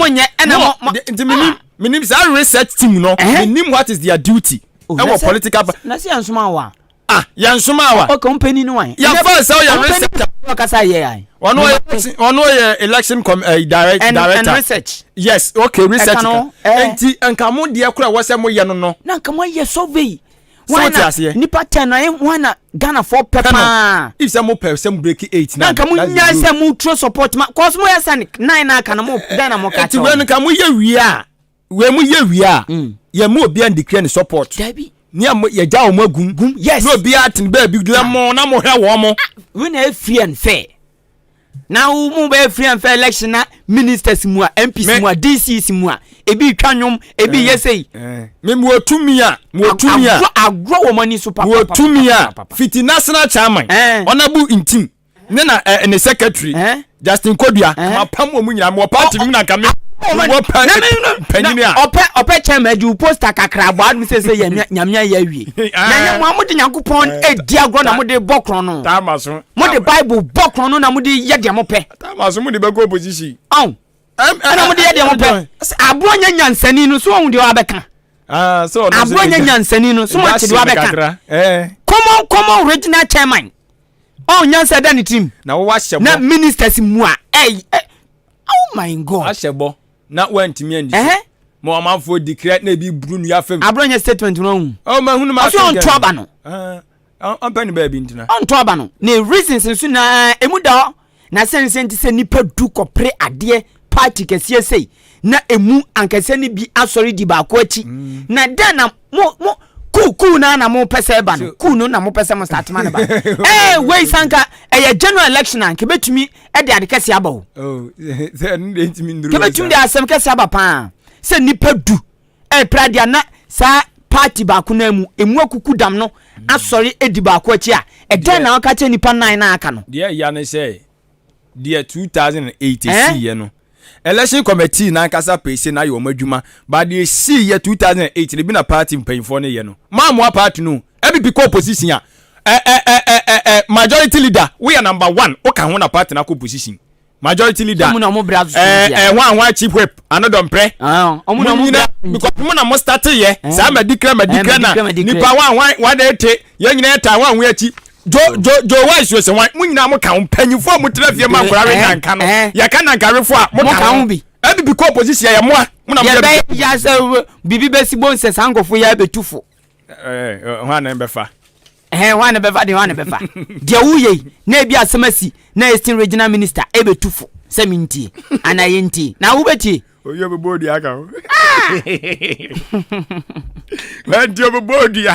nyɛ ɛna mo mo nti menim ah. menim saa research team no menim what is their duty ɛwɔ political party na se yɛn soma wa Ah, yɛn soma wa. Okay, ɔmpɛ ni ni wan. Yɛn fɔ ɛsɛ ɔyɛ research. Ɔmpɛ ni ɔkasa yɛ yan. Ɔno ɔyɛ ɔno ɔyɛ election com ɛɛ eh, direct and, director. And research. Yes, okay, research. Ɛka no ɛɛ. Eh. Nti nka mo deɛ kura wɔ sɛ mo yɛ no no. Na nka mo ayɛ survey. Wɔn na nipa ten na eh, wɔn na Ghana fɔ pɛ paa. If sɛ mo pɛ sɛ mo break eight na. Na nka mo nya sɛ mo turo support ma kɔsɔmɔ yɛ sɛ nine na aka na mo Ghana mo ka kyɛw. Eti wɛn nka mo yɛ wia. wei mu yɛ wie a mm. yɛn mu obiara ndikira ne support dabi ni a yɛgya wɔn agum gum yes na obiara tene baabi gyina mo na mo hwɛ wɔn mo. Ah, wo na efiri ɛn fɛ na wo mu bɛ efiri ɛn fɛ election na ministers mu a mps mu a dcs mu a ebi twa nwom ebi eh, yɛ sɛyi. Eh. mi mu otumi a mu otumi a agorɔ wɔn ani so papa papa papa papa fiti national chairman ɔnabu eh. ntim. ne na ɛ eh, ne secretary eh? Justin Kodua eh? ma pam wɔn nyinaa mewɔ party no mu na nka me wɔ pɛ panyini a ɔpɛ ɔpɛ kyɛn ma agye wo poster kakra bɔ adum sɛ sɛ yɛ nyamea yɛ awie ah. na yɛ mo a mo de nyankopɔn eh, edi agorɔ na mo de bɔ korɔn no taama so mo de bible bɔ korɔn no na mo de yɛ deɛ mo pɛ taama so mo de bɛ kɔ opposition ɔn ɛna mo de yɛ deɛ mo pɛ aboɔ nyɛ nyansani no so ɔhun deɛ wabɛka ah, aboɔ nyɛ nyansani no so mo ate deɛ wabɛka eh. common common original chairman. Oh nyansa da ne tirim. Na wo wahyɛ bɔ. Na ministers mu a ɛy ɛ oh my god. Ahyɛ bɔ na wantumi andi so. Mo amanfoɔ di kira na ebi buru nua fam. Aburo nyɛ statement no ahu. Oh ma hunu ma asɛm gɛn. Ɔsɛ ɔntɔ aba no. Ɔmpɛ ne baabi ntina. Ɔntɔ aba no. Ne reasons nso na emu da hɔ. Na sɛnsɛn te sɛ nnipa du kɔpere adeɛ party kɛseɛ sei na emu ankɛsɛ no bi asɔre di baako akyi mm. na dɛn na mo mo kuu kuu no na mo pɛ sɛ ɛba no kuu no na mo pɛ sɛ mo start ma no ba ɛɛ eh, wei sanka ɛyɛ general election a nkebɛtumi ɛde ade kɛseɛ aba o oh, nkebɛtumi de asɛm kɛseɛ aba paa sɛ nnipa du ɛrepra deɛ a na saa party baako no ara mu emu akuku dam no asɔre adi baako akyi a, ɛdɛn na ɔka kyerɛ nnipa nnan no a aka no? Deɛ ɛya ne sɛ, deɛ 2008 ɛsiiɛ no, Election Committee no ankasa pɛi sɛ na ayɛ wɔn adwuma, but deɛ ɛsiiɛ 2008 no, bi na party mpanyinfoɔ no yɛ no, moammoa party no o, NPP kɔ opposition a, ɛ ɛ ɛ ɛ ɛ ɛ majority leader, woyɛ number one, woka ho na party no akɔ opposition, majority leader ɛɛ ɛɛ hwan hwan chief whip ano dɔmprɛ mo nyina because mo na mo start yɛ saa ma di kira ma di kira na nipa hwan hwan hwan na ete yɛn nyina yɛ ta hwan hwan akyi jo jo jo wa esu ese hwan mo nyina mo ka ho mpanyinfo a mo tena fie ma nkora we nanka no yɛ ka nanka awefo a mo ka ho bi ɛbi bi kɔ opposition yɛ mo a mo na mo yɛ bi. yɛ bɛ yasa bibi bɛ si bo nsɛ saa nkɔfo yɛ abɛtufo. Eh, hwan na bɛfa? Eh, hwan na bɛfa de hwan na bɛfa? Deɛ woyɛ yi na ebi asɛm asi na Eastern Regional Minister ebetu fo sɛ mi ntie anaa yɛ ntie na wobɛtie. Oyi obɛbɔ odua ka ho. Nti obɛbɔ odua.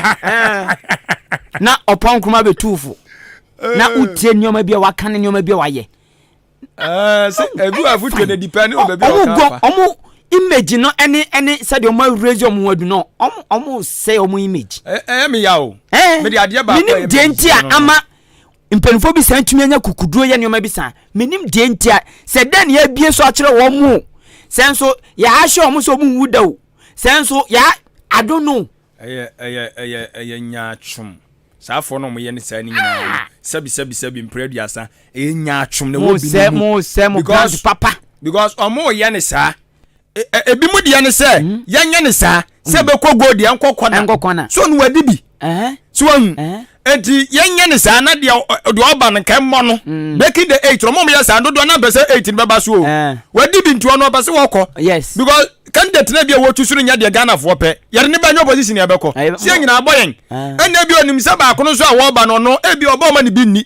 Na ɔpɔn kuruma bɛtu fo na wotie nneɛma bi a waka ne nneɛma bi a wayɛ. Eh, sɛ edu a foto na depend on baabi a ɔka fa. ɔmo image no ɛne ɛne sɛdeɛ ɔmo awurezi ɔmo ho adu no ɔmo ɔmo sɛ ɔmo image. ɛyɛ eh, eh, mi ya o. ɛɛ mi de adeɛ baako ɛyɛ mi deɛ nti a ama mpanyinfoɔ bi san tumi anya kukuduro yɛ nneɛma bi san minim deɛ nti a sɛ dɛn na yɛabie so akyerɛ wɔn mo sɛ nso yɛahyɛ wɔn sɛ wɔn nwu da o sɛ nso yɛa i don't know. Ɛyɛ, ɛyɛ, ɛyɛ, ɛyɛ nyaatwom. Saa afɔre no a wɔyɛ ne saa no nyinaa no, sɛbi, sɛbi, sɛbi, mpere aduasa, ɛyɛ nyaatwom na ɛwɔ Mo bi sɛ, no mu. mo sɛ, mo brand Because, papa. because wɔyɛ ne saa. E- e- Ebi mu deɛ ne sɛ, yɛnyɛ ne saa, sɛ ɛbɛkɔ gold deɛ ɛnkɔ kɔna. Ɛnkɔ kɔna. So no wadi bi. Ɛhɛn, So wɔn, ɛhɛn. eti yɛnyɛ ne saa na deɛ deɛ ɔba no nka mmɔ no mm. breaking the eight ɔmo yɛ saa dodoɔ na mpɛ sɛ eight no bɛba so o eh. wadi bi ntoɔ no ɔpɛ sɛ wɔkɔ yes because candidate na bi a wɔtu so no nyɛ deɛ ghanafoɔ pɛ yɛde ne ba nyɛ opposition yɛ bɛkɔ eh, si yɛ nyinaa bɔ yɛn eh. ɛnna bi onim sɛ baako no nso a wɔba no ɔno ebi ɔbɔ ɔma ne bi nni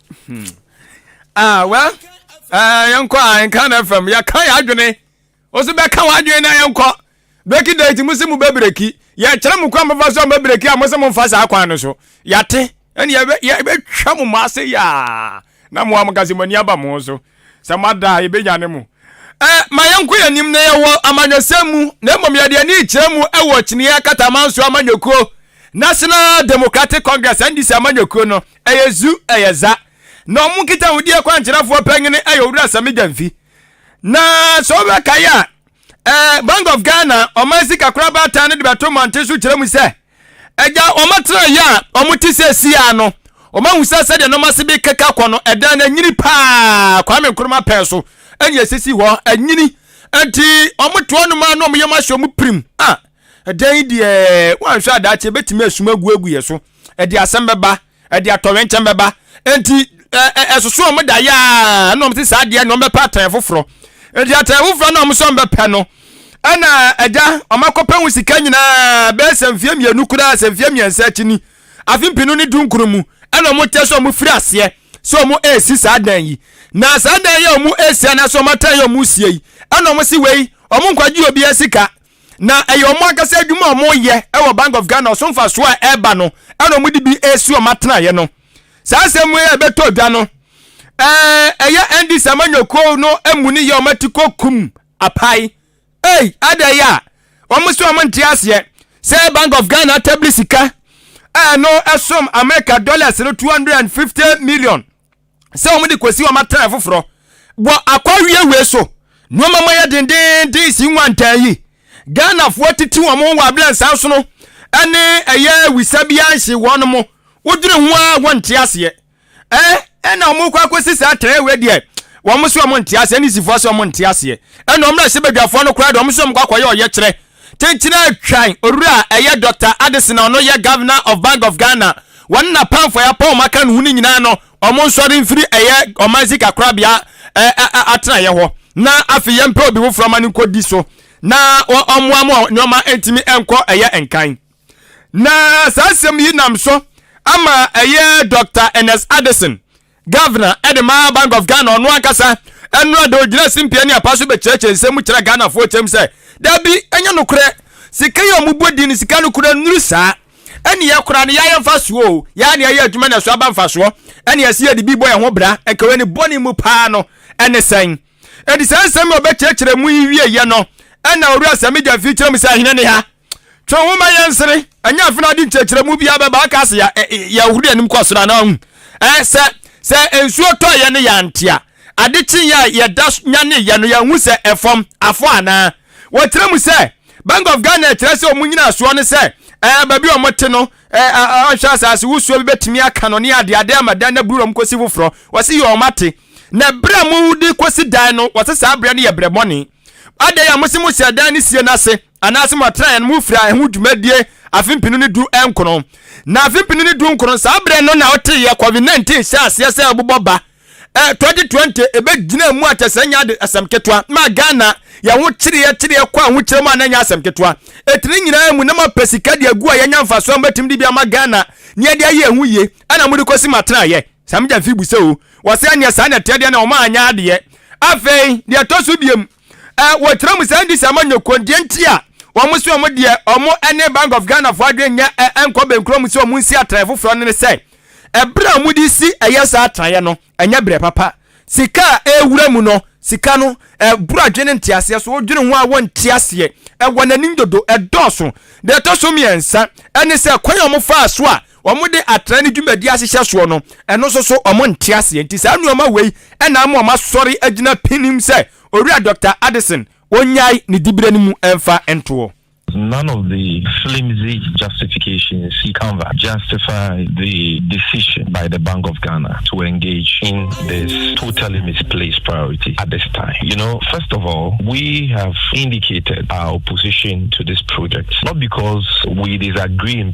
Hmm. Ah, well, uh, yɛnkɔ a ah, nka na fam yɛka yɛ adwene wo so bɛka w'adwene na yɛnkɔ breki date mu se mu bɛbreki yɛkyerɛ mu kwan bɛfa so a mɛbreki a mo se momfa saa kwan no so yɛate ɛne yɛbɛtwa mo mo ase yɛa na moa mo kase mo ani aba mo so Sɛ moada a, yɛbɛnyane mo. Ɛ, ma yɛnkɔ yɛn anim na yɛwɔ amanyɔsɛm mu, na mmom yɛde ani rekyerɛ mu wɔ kyiniiɛ akataman so amanyɔkuo, National Democratic Congress, NDC, amanyɔkuo no. Ɛyɛ zu, ɛyɛ za. Na wɔn nkitahodie kwankyerɛfoɔ panin yɛ Owura Sammy Gyamfi. Na sɛ wobɛkae a, ɛ, Bank of Ghana, Ɔman Sika Korabata no de bɛto mmɔnten so kyerɛ mu sɛ, Agya, wɔatena yɛ a wɔte sɛ siaa no. Wɔahu sɛ sɛdeɛ nneɛma ase bi keka kɔ no, ɛdan no anyini paa. Kwame Nkrumah pɛɛ so ɛne ɛsisi hɔ anyini. Nti wɔte hɔ nom a na wɔyɛ wɔn ahyɛ wɔn pirim. Ah, ɛdan yi deɛ wɔanhwɛ a daakye ɛbɛtumi asum agu agu yɛ so. Ɛde asɛm bɛba. ɛde atɔwɛnkyɛm bɛba nti ɛsoso wɔn da yaa na wɔn si saa deɛ na wɔn bɛpɛ atɛn foforɔ nti atɛn foforɔ na wɔn sɛ wɔn bɛpɛ no ɛna ɛgya wɔn akɔpɛ ho sika nyinaa bɛyɛ sɛ mfie mmienu koraa sɛ mfie mmiɛnsa akyi ni afe mpinu ne dunkuru mu ɛna wɔn kyɛ sɛ wɔn firi aseɛ sɛ wɔn ɛresi saa dan yi na saa dan yi a wɔn ɛresi anaasɛ wɔn atɛn yɛ wɔn sie yi ɛna wɔn si wei wɔn nkwagye obi asika na ɛyɛ wɔn ankasa adwuma a wɔyɛ wɔ bank of ghana ɔso mfasoɔ a ɛreba no ɛna wɔn de bi ɛresi wɔn atenaeɛ no saa asɛm yi a ɛbɛtɔ dwa no ɛɛ ɛyɛ ɛndi sama nyɔkuo no emu ne yɛ wɔn ati kɔ kum apae ɛy ada yi a wɔn so wɔn nte aseɛ sɛ bank of ghana atabili sika a ɛno ɛsom america dollars no two hundred and fifty million. sɛ wɔn de kɔsi wɔn atenae foforɔ wɔ akwa wiewei so nneɛma ma yɛ dendeenden si nwa ntaa yi ghanafoɔ titi wɔn ho wɔ abirɛ nsan so no ɛne ɛyɛ wisa bi anhye wɔn mo wodwene ho a wɔn nte aseɛ ɛɛ ɛna wɔn kɔ akɔsi saa atenae wei deɛ wɔn so wɔn nte aseɛ ne sifoɔ so wɔn nte aseɛ ɛna wɔn na ɛhyɛ badwafoɔ no koraa deɛ wɔn so wɔn kɔ akɔyɛ ɔyɛkyerɛ Kyenkyena Atwan Owura a ɛyɛ Dɔkta Adesina ɔno yɛ Governor of Bank of Ghana wɔne n'apamfo a yɛapɔn wɔn aka no ho no nyinaa no wɔn nsɔre mfiri ɛyɛ ɔman sika korabea atenaeɛ hɔ na afei yɛmpɛ obi foforɔ ma no nkɔdi so na wɔmmoa mo nneɛma ntumi nkɔ ɛyɛ nkan na saa asɛm yi nam so ama ɛyɛ Dɔkta Ernest Addison Governor de maa Bank of Ghana ɔno ankasa nnora de ogyina simpie ne apa so bɛkyerɛkyerɛ nsɛm mu kyerɛ Ghanafoɔ kyɛm sɛ dabi ɛnyɛ nokorɛ sika yi a wɔbɔ din no sika no kura nnuru saa ɛne yɛ kora no yɛ ayɛ mfa soɔ o yɛ a ne ayɛ adwuma na ɛso aba mfa soɔ ɛne ɛsɛ yɛde bi bɔ yɛn ho bra ɛka wei ne bɔne mu paa no ɛne sɛn ɛde saa nsɛm a ɔbɛkyerɛkyerɛ mu yi wie yɛ no ɛna ɔwura sɛ megya mfiri kyerɛ mu sɛ ahene ne ha Twe wo ma yɛnsere, ɛnyɛ afe no ade nkyerɛkyerɛmu biara bɛba aka sɛ yɛhoro yɛn anim kɔ soro anaa hu. Sɛ sɛ nsuo tɔeɛ no yɛante a, ade kyeeɛ a yɛda nyaneeɛ no yɛahu sɛ ɛfam afɔ anaa? Wɔkyerɛ mu sɛ Bank of Ghana kyerɛ sɛ wɔn nyinasoɔ ne sɛ baabi a wɔte no anhwɛ asase wosoɔ bi bɛtumi aka no ne adeade ama dan no aburu na wɔkɔsi foforɔ. Wɔse yɛ wɔn ate. Na berɛ a mode kɔsi dan no, wɔse saa berɛ no yɛ berɛ bɔne. Adɛn a mose mohyɛ dan no sie no ase? anaase mo atenaeɛ no mo firaa ɛho dwumadie afe mpenu ne du nkron, na afe mpenu ne du nkron saa berɛ no na woteeɛ covid 19 hyɛɛ aseɛ sɛ ɛbobɔ ba ɛ 2020 ɛbɛ gyinaa mu akyɛ sɛ ɛnyɛ ade asɛm ketewa maa Ghana yɛn ho kyereɛ kyereɛ kɔ ahokyerɛ mu a na ɛnyɛ asɛm ketewa ɛti ne nyinaa mu na mo apɛ sika de agu a yɛnya mfasoɔ a mo bɛtumi de bi ama Ghana ne yɛde ayɛ ɛho yie ɛna mo de kɔsi mo atenaeɛ saa mo gya mfi bu sɛ o wɔsɛ ɛneɛ saa na ɛteɛ deɛ na wɔn anyɛ adeɛ afei deɛ ɛtɔ so biom eh, wɔtra mu saa ndi sɛ ma nyɛ kɔn deɛ nti a wɔn so wɔn deɛ wɔn ne bank of ghana fo adwene nyɛ eh, nkɔ bɛnkuro mu sɛ wɔn nsi atraeɛ foforɔ no ne sɛ ɛberɛ a wɔn de si ɛyɛ saa atraeɛ no ɛnyɛ berɛ papa sika a ɛwura mu no sika no ɛboro adwene nteaseɛ so wodwene ho a wɔnte aseɛ ɛwɔ n'anim dodo ɛdɔɔso deɛ ɛtɔ so mmiɛnsa ɛne sɛ kwan a wɔfaa so a wɔde atra ne dwumadi ahyehyɛ soɔ no, ɛno nso so wɔn nte aseɛ. Nti saa nneɛma wei ɛna ama wɔn asɔre agyina pinim sɛ Owura Doctor Addison ɔnyae ne diberɛ no mu ɛmfa ntoɔ. None of the flimsy justifications he cover justify the decision by the Bank of Ghana to engage in this totally misplaced priority at this time. You know, first of all, we have indicated our opposition to this project, not because we disagree in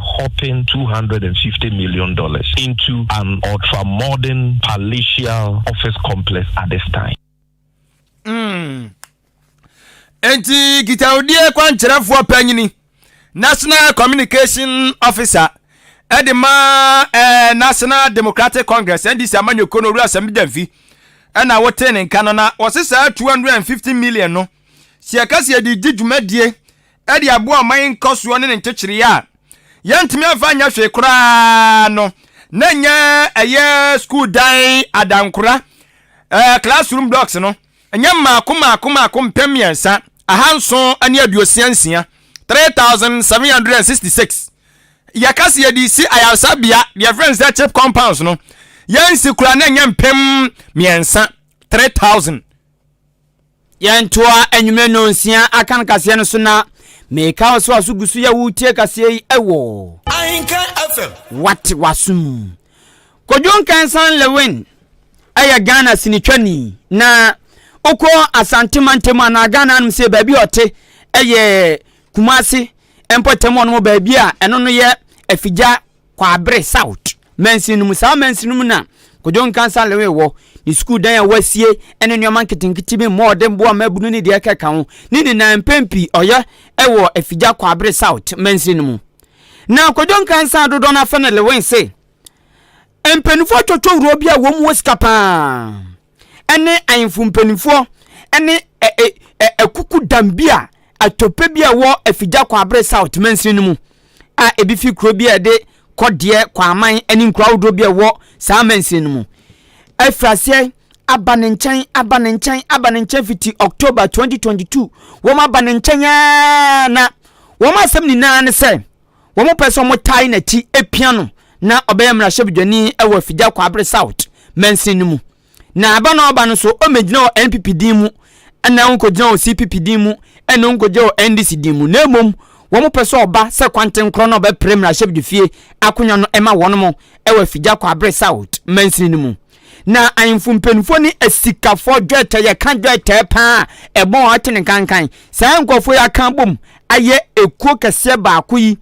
hopping two hundred and fifty million dollars into an ultra modern palatial office complex at this time. Mm. Enti kitawudie kwankyerɛfoɔ panyini national communication officer ɛde ma eh, national democratic congress ndc amanyɔkuo no owura asɛm gyamfi ɛna wotee ne nka no na wɔse saa 250 million no sɛ yɛka sɛ yɛde gye dwumadie de aboa ɔman nkɔsoɔ ne ne nkyekyere a yɛntumi amfa anyɛ hwee koraa no na nyɛ ɛyɛ sukuu dan adankora ɛɛ classroom blocks no nyɛ mmaako mmaako mmaako mpem mmiɛnsa ahanson ne aduosia nsia three thousand seven hundred and sixty six yɛka se yɛde si ayaresabea deɛ fɛn sɛ chip compounds no yɛnsi kura na nyɛ mpem mmiɛnsa three thousand. Yɛntoa anwummerɛ nnɔnsia aka no kaseɛ no so na meka wo sɛ waso gu so yɛ wotie kaseɛ yi ɛwɔ Ahinka FM wate waso mu Kodwo Nkansan Lewin ɛyɛ Ghana sinitwani na wokɔ Asante mantam anaa Ghana anom sɛ baabi a ɔte ɛyɛ Kumase mpɔtam ɔnom baabi a ɛno no yɛ afigya Kwabre South mansin no mu. Saa mansin no mu na Kojo Nkansah Lewin wɔ. Ne sukuu dan a wɔasie ne nneɛma nketenkete bi, mmɔɔden boɔ, mmaabunu ne deɛ ɛkeka ho. Ne nyinaa mpɛn pii ɔyɛ wɔ Afigya Kwabre South mansin no mu. Na Kojo Nkansah dodɔ no afɛ ne Lewin se, Mpaninfoɔ twɔtwɔ wuro bi a wɔn wɔ sika paa. ne ahemfo mpanimfoɔ ne akukudam bi a atɔpɛ bi a ɛwɔ Afigya Kwabre South mansini no mu a ebi fi kuro bi a ɛde Kɔdeɛ, Kwaman ne nkuro ahodoɔ bi a ɛwɔ saa mansini no mu. Afiri aseɛ aba ne nkyɛn, aba ne nkyɛn, aba ne nkyɛn fiti October 2022. Wɔn aba ne nkyɛn ara na wɔn asɛm nyinaa ne sɛ. wɔpɛ sɛ wɔtae n'akyi pia no na ɔbɛyɛ mmarahyɛbadwani wɔ Afigya Kwabre South mansin no mu. Na ɛba na ɔba no nso, ɔmmɛgyina wɔ NPP din mu na ɔnkɔgyina wɔ CPP din mu na ɔnkɔgyina wɔ NDC din mu na mmom wɔpɛ sɛ ɔba sɛ kwantenkorɔ na ɔbɛpere mmarahyɛbadwafie akonnwa no ma wɔn wɔ Afigya Kwabre South mansin no mu. Na ahemfo mpanyimfoɔ ne asikafoɔ dwetɛ yɛka dwetɛ paa a ɛbɔ wɔn atene nkankan. Saa nkurɔfoɔ yi aka abom ayɛ ekuo kɛseɛ baako yi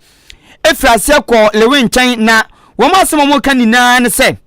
firi aseɛ kɔɔ Lewi nkyɛn, na wɔn asɛm a wɔka nyinaa ne sɛ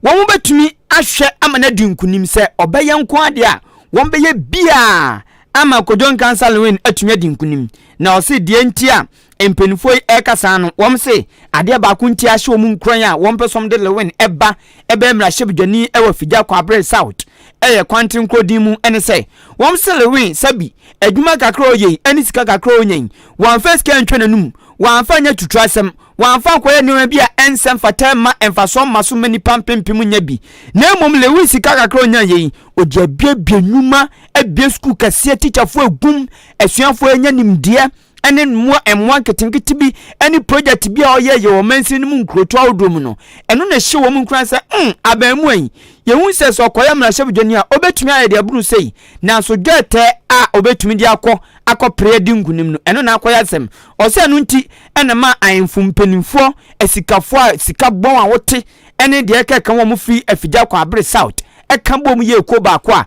wɔbɛtumi ahwɛ ama no adi nkonim. Sɛ ɔbɛyɛ nko adeɛ a, wɔbɛyɛ biara ama Kojo Nkansah Lewin atumi adi nkonim. Na ɔse deɛ nti a Mpanyinfoɔ yi ɛrekasa no, wɔn se adeɛ baako nti a ahyɛ wɔn nkuran a wɔn pɛ sɛ wɔn de Lewin ɛba ɛbɛyɛ mmarahyɛbedwani ɛwɔ Figya Kwabre South ɛyɛ Kwantene kuro din mu ɛne sɛ, wɔn se Lewin sɛbi adwuma kakra a ɔyɛ yi ɛne sika kakra a ɔnya yi, wɔamfa sika antwa n'anum, wɔamfa anyɛ tutuasɛm, wɔamfa ankɔyɛ nneɛma bi a ɛnsɛ mfata mma mfasoɔ mma so mma nnipa mpempem nnya bi. Na mmom Lewin sika kakra a ɔnyaeɛ yi, ɔde abuebue nnwuma, abue sukuu kɛseɛ, tikyafoɔ agum, asuafoɔ anya nimdeɛ, ne mmoa mmoa nketenkete bi ne project bi a ɔyɛ yɛ wɔ mansin no mu nkurotu ahodoɔ mu no ɛno na ɛhyɛ wɔn nkuran sɛ mm abaamua yi yɛhu sɛ sɛ ɔkɔyɛ mmarahyɛbadwani a ɔbɛtumi ayɛ deɛ ɛboro sei nanso dwɛɛtɛ a ɔbɛtumi de akɔ akɔpere adi nkunim no ɛno na akɔyɛ asɛm ɔsɛ ɛno nti ɛna ma ahemfo mpanimfoɔ asikafoɔ a sika bɔn a wɔte ɛne deɛ ɛkɛka wɔn firi afigya kɔ abere south ɛka bom yɛ ekuo baako a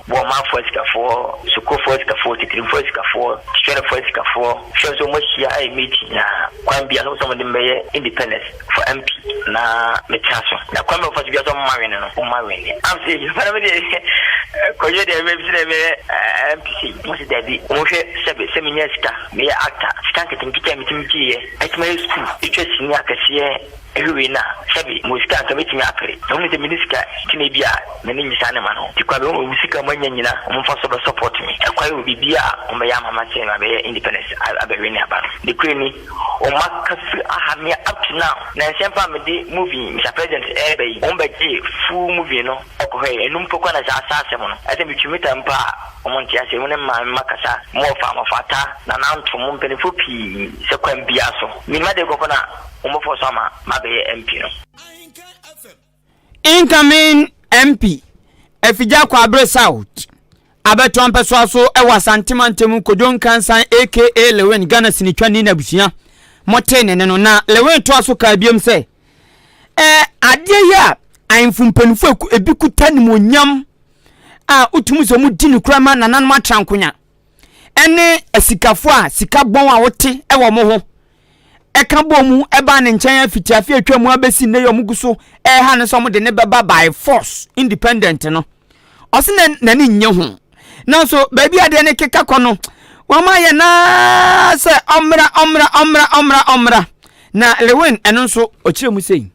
Boɔmafoɔ asikafoɔ, Sokofoɔ asikafoɔ, Titirimfoɔ asikafoɔ, Twerɛfoɔ asikafoɔ, hwɛ nso wɔahyia ayɛ meeting yi ara kwan biara sɛ wɔpɛ sɛ wɔde me bɛyɛ independence for MP na metena so na kwan biara a wɔfa so biara sɛ wɔmma wene no wɔmma wene. Am sɛ eyi paa me deɛ kɔyɛ deɛ ɛbɛyɛ mese dɛ mɛyɛ MP sei wɔse dabi wɔnhwɛ sɛbe sɛ menya sika meyɛ actor sika nketenkete a metumi gyeeɛ atumi ayɛ school atwa sini akɛseɛ Ewiei no a, sɛbe mowɔ sika a anka metumi apere, na wohu sɛ menni sika nti na ebia m'ani nnye saa nneɛma no ho. Enti kwa bɛn wɔ mo sika a moanya nyina a momfa so bɛ support me? Ɛkwae wɔ biribiara a wɔbɛyɛ ama m'asen no abɛyɛ independence abɛwe ne aba no. Nokorɛ ni, wɔn aka firi aha me a up to now. Nansa mpo a mede movie Mister President reba yi, wɔn bɛgyee full movie no kɔhɔɛɛ. Ɛno mpo koraa na saa saa asɛm no. Ɛsɛ metwi metaa mpo a wɔn nte aseɛ. Mo ne mmaa me mma kasa, mo wɔfa, mo fata, nananto, mo mpaninfoɔ pii sɛ kwan biara so. Menima deɛ kɔkɔ no a. wɔbɛfɔ so ama mabɛyɛ MP no. Incoming MP Afigya Kwabre South abɛtoa mpɛsoa so wɔ Asante mantam Kojo Nkansan aka Lewin Ghana sinitwani n'abusua motee ne ne no na Lewin toa so kaa biom sɛ eh, adeɛ yi a ahemfo mpanyinfo ebi kuta nimonyam a wotumi sɛ wɔn di no kura ma nananom atrankonya. ne asikafo a sika bɔn a wote wɔ mo ho ɛka bɔ mu ɛbaa ne nkyɛn afiti afe atwa mu abɛsi nnɛ yɛ ɔmo gu so ɛha no sɛ ɔmo de ne bɛba by force independent no ɔse na n'ani nye ho nanso baabi adeɛ ne keka kɔ no wɔn ayɛ naa sɛ ɔmmra ɔmmra ɔmmra ɔmmra ɔmmra na lewin ɛno nso ɔkyerɛ mu sei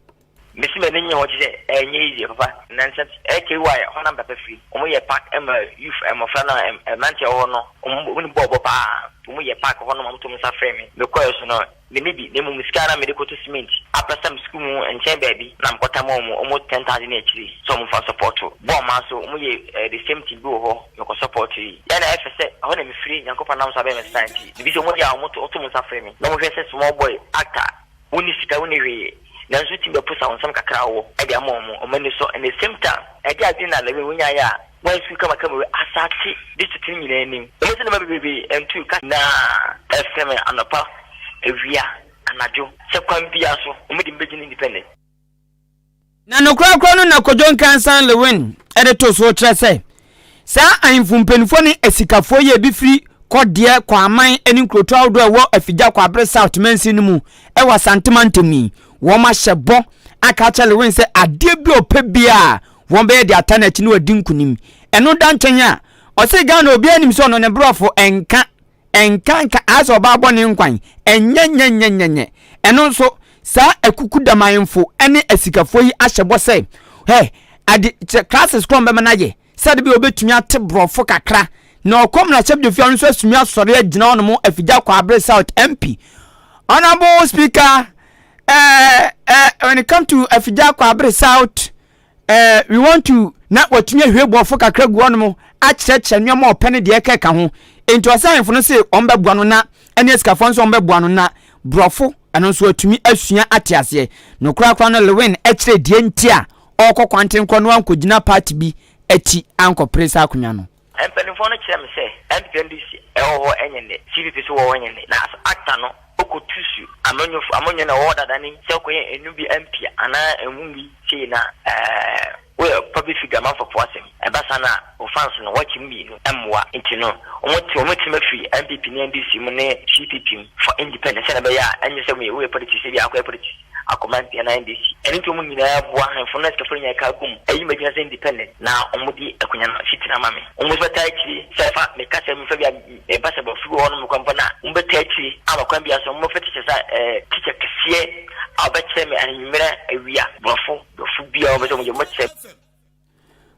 Mesi m'ani nye hɔ kyesɛ ɛnyɛ easy papa nansa KY hɔnam papa firi ɔmo yɛ park ma youth mmɔfra no a mmranteɛ a wɔwɔ no ɔmo nim bɔɔl bɔ paa ɔmo yɛ park hɔnom ɔmo to ɔmo nsa frɛ me mekɔɛ so no menni bi na mmom sika na mede kɔto cement aprasam sukuu mu nkyɛn baabi na mekɔta ma ɔmo ɔmo ten thousand ne akyiri sɛ ɔmo fa sɔpɔto bɔɔl maa so ɔmo yɛ eh, the same thing bi wɔ hɔ mekɔ sɔpɔto yi yɛ na ɛfɛ sɛ ɛhɔ na mefiri nyankopɔn nam so abɛn me star nti biribi sɛ ɔmo yɛ a ɔmo to ɔmo nsa frɛ me na ɔmo hwɛ sɛ small boy actor Wonni sika, wonni hwee, nanso wotumi bɛposa wo nsɛm kakra a wɔwɔ de ama wɔn, wɔn ani sɔ, and the same time ɛde adwene na levin wonyaeɛ a woansiw kamakama wɔ asase district no nyinaa anim. Ɛwom sɛ nneɛma bebrebe ntuu ka. Na ɛsɛ me anɔpa, awia, anadwo, sɛ kwan biara so wɔde me bɛgyina independent. Na nokorɛkorɛ no na Kojo Nkansah Lewin de to soɔ kyerɛ sɛ, saa ahemfo mpanimfoɔ ne asikafoɔ yi a ebi firi Kɔdeɛ, Kwaman ne nkurotoɔ ahodoɔ a ɛwɔ Afigya Kwabre South mansin no mu wɔ Asante mantam yi, wɔahyɛ bɔ aka akyerɛ Lewin sɛ adeɛ bi a ɔpɛ biara a wɔbɛyɛ de ata no akyi na wadi nkonim. Ɛno da nkyɛn a, ɔse Ghana obiara nim sɛ ɔno ne borɔfo nka. Ɛnka nka aa sɛ ɔbaa bɔne nkwan. Ɛnyɛnyɛnyɛnyɛnyɛ. Ɛno nso, saa akukudamanfo ne asikafo yi ahyɛ bɔ sɛ, hɛ, ade, kyɛ, classes korɔ a wɔbɛma no ayɛ, sɛ ade bɛyɛ ɔbɛtumi ate borɔfo kakra. Na ɔkɔm na ahyɛm Gyafia no nso asumi asɔre agyina hɔ nom afigya Kwabre South MP. Honourable Speaker, eh, eh, when it come to afigya Kwabre South, Eh, we want to na watumi ahwie boɔfo kakra agu hɔnom akyerɛkyerɛ nneɛma ɔpɛ ne deɛ ɛka ɛka ho. Enti ɔsɛ ahemfo no se wɔbɛboa no na ɛne asikafoɔ nso wɔbɛboa no na borɔfo ɛno nso atumi asua ate aseɛ. No korakora no Lewin kyerɛɛ deɛ nti a ɔrekɔ kwanten korɔ na wankɔgyina party bi akyi ankɔpere saa akonnwa no. Mpanimfoɔ no kyerɛɛ me sɛ NPP NDC ɛwɔ hɔ nyɛ nnɛ, CPP nso wɔ hɔ nyɛ nnɛ, na sɛ acta no ɔkɔ tu su amanyɔfo amanyɔ na ɛwɔ hɔ dada ne sɛ ɔkɔ yɛ ɛnu bi ampia anaa ɛnwu bi sei na ɛɛ woyɛ public figure amanfɔfoɔ asɛm ɛba saa na wo fans no wɔakye mu mmienu ɛmmoa nti no wɔn te wɔn tiri mu afiri NPP ne NDC mu ne CPP mu for independent sɛdeɛ ɛbɛyɛ a ɛnyɛ sɛ woyɛ woyɛ politics ebia akɔyɛ politics akoma ntia na NDC. Ɛno nti wɔn nyinaa boa ahemfo no sikafo no nya ɛka gu mu ayi m'agyina sɛ independent na wɔn di akonya no si tena ama me. Wɔn nso bɛtaa akyire sɛ fa me ka sɛ mefa bi a me ba sɛ bɔfo bi wɔ hɔ nom mekɔ mpo na wɔn bɛtaa akyire ama kwan biara so wɔn bɛfa teacher sɛ ɛɛ teacher kɛseɛ a ɔbɛkyerɛ me ahenni mmerɛ awia bɔfo bɔfo biara wɔn bɛ sɛ wɔn yɛ wɔn bɛkyerɛ me.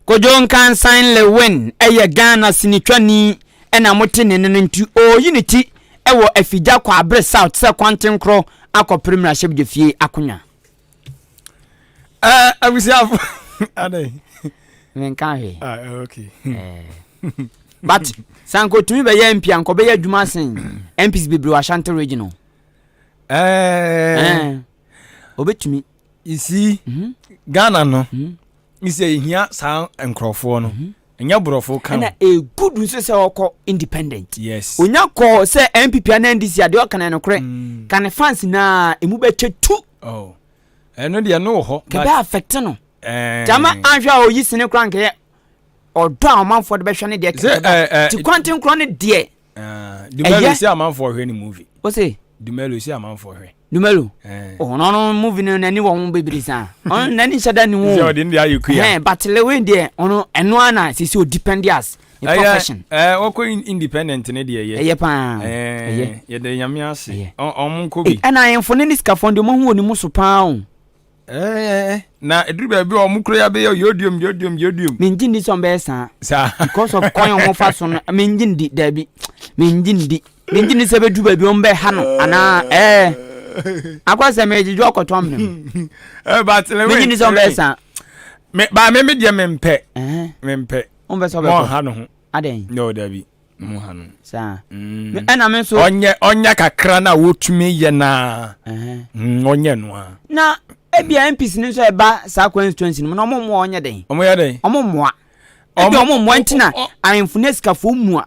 Kojo Nkansan Lewin yɛ Ghana sinitwani na mote ne nne no nti ɔreyi ne ti wɔ Afigya Kwabre South sɛ kwantenkorɔ akɔpere mmarahyɛbedwafie akonwa. Eh, abusuafo. Adɛn? Menka hwee. Ah, eh, okay. Eh. But sɛ ankɔtumi bɛyɛ MP a nkɔbɛyɛ adwuma asen MPs bebree wɔ Ashanti region o. Eh. Eh. Obɛtumi. Isi mhm. Ghana no mhm. misɛ yɛhia saa nkurɔfoɔ no mhm. ɛnyɛ borɔfo ka ɛna ɛgudu nso sɛ ɔkɔ independent yes onya kɔɔ sɛ npp ana ndc adeɛ ɔka no nokorɛ mm. ka ne fans naa ɛmu bɛkyɛ tu oh. ɛno deɛ no wɔ hɔ kɛbɛ affect no eh. gyama anhwɛ a ɔyi sene kora nkɛyɛ ɔdɔ a ɔmanfoɔ de bɛhwɛ no deɛ kɛbɛ ti kwanten korɔ no deɛ Ah, Dumelo si amanfoɔ hwɛ ne movie. O se. Dumelo si amanfoɔ hwɛ. Dumelo. Eh. Ɔhɔn oh, ɔno movie no n'ani wɔ ho bebree saa. Ɔno n'ani nhyɛ da ne ho. Sɛ ɔde ne deɛ ayɛ kuya. Ɛhɛn but Lewin deɛ ɔno ɛno ara na sisi o depend as ne profession. Ɛɛ eh, ɔkɔ independent ne deɛ yɛ. Ɛyɛ paa. Eh, Ɛyɛ. Yɛde nyame ase. Ɔmo nkɔ bi. Ɛna ahemfo ne ne sikafoɔ deɛ ɔmo ho wɔ ne mu so paa o. Eh, na eduru baabi a wɔn kura bɛyɛ yodium yodium yodium. mengye ndi sɛ ɔmbɛyɛ saa saa because of kwan a wɔfa so no mengye ndi daabi mengye ndi mengye ndi sɛ bɛduru baabi ɔmbɛha no anaa ɛɛ eh. akɔ sɛ megyegye ɔkɔtɔ mene mu eh, mengye ndi sɛ ɔmbɛyɛ saa baa me me deɛ mempɛ mempɛ ɔmpɛ sɛ ɔbɛkɔ ha no ho adɛn no daabi Mo ha no. Saa. Mm. Ɛna me nso. Ɔnyɛ ɔnyɛ kakra na wotumi yɛ na. Mm, ɔnyɛ no a. Na ebi a MPs no nso ɛba saa constituency no mu na ɔmo mmoa ɔnyɛ den. Ɔmo yɛ den. Ɔmo mmoa. Ebi ɔmo mmoa nti na ahemfo ne sikafoɔ mu a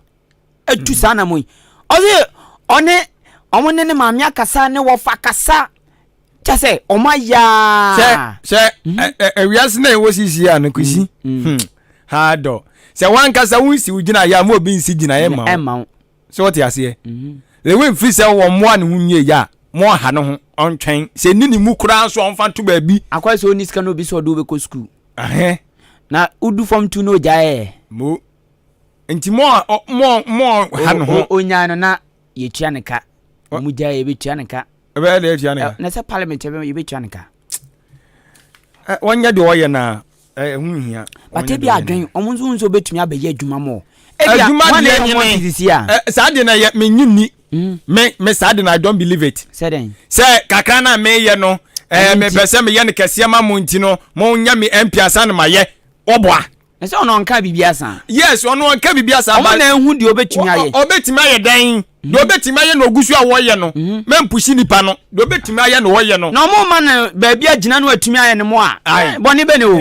etu saa na mo yi. Ɔsi ɔne ɔmo ne ne maame akasa ne wɔfa kasa. kyɛ sɛ ɔma yaa sɛ sɛ awiase na ɛwɔ sisi a no kwesi mm, mm. hmm, ha dɔ sɛ wankasa wonsi wo gyina yɛ a ma obi nsi gyinaeɛ ma wo sɛ wɔte aseɛ mm-hmm. lewe mfiri sɛ wɔ mmoa ne ho nwie yɛ a ma ɔha no ho ɔntwɛn sɛ ni ne mu koraa so ɔmfa to baabi akwa sɛ ɔni sika no obi sɛ ɔde wobɛkɔ sukuu na wodu fam tu no ɔgyaeɛ mo nti mo ha no ho ɔnyaa no na yɛtua ne ka wɔn gya yɛbɛtua ne ka ɛbɛyɛ dɛ yɛtua ne ka na sɛ parliament yɛbɛtua ne ka wɔnyɛ deɛ wɔyɛ no a ɛho nhia bate bi adwen wɔn nso nso bɛtumi abɛyɛ adwuma mɔ adwuma deɛ nyene saa deɛ na yɛ menyi nni hmm. me me saa deɛ na i don't believe it sɛ kakra no a meyɛ no mepɛ sɛ meyɛ no kɛseɛ ma mo nti no monyɛ me mpiasa no mayɛ wɔboa Na sɛ ɔno ɔnka biribi asa. Yes, ɔno ɔnka biribi asa. Ɔmo na ehu deɛ ɔbɛtumi ayɛ. Ɔbɛtumi ayɛ dɛn? Deɛ mhm. ɔbɛtumi ayɛ na ɔgu so a wɔyɛ no. Mhm. Mɛmpusi nipa no. Deɛ ɔbɛtumi ayɛ na ɔyɛ no. Na ɔmo ma no baabi agyina no atumi ayɛ no mo a. Eh, bɔne bɛ ne o.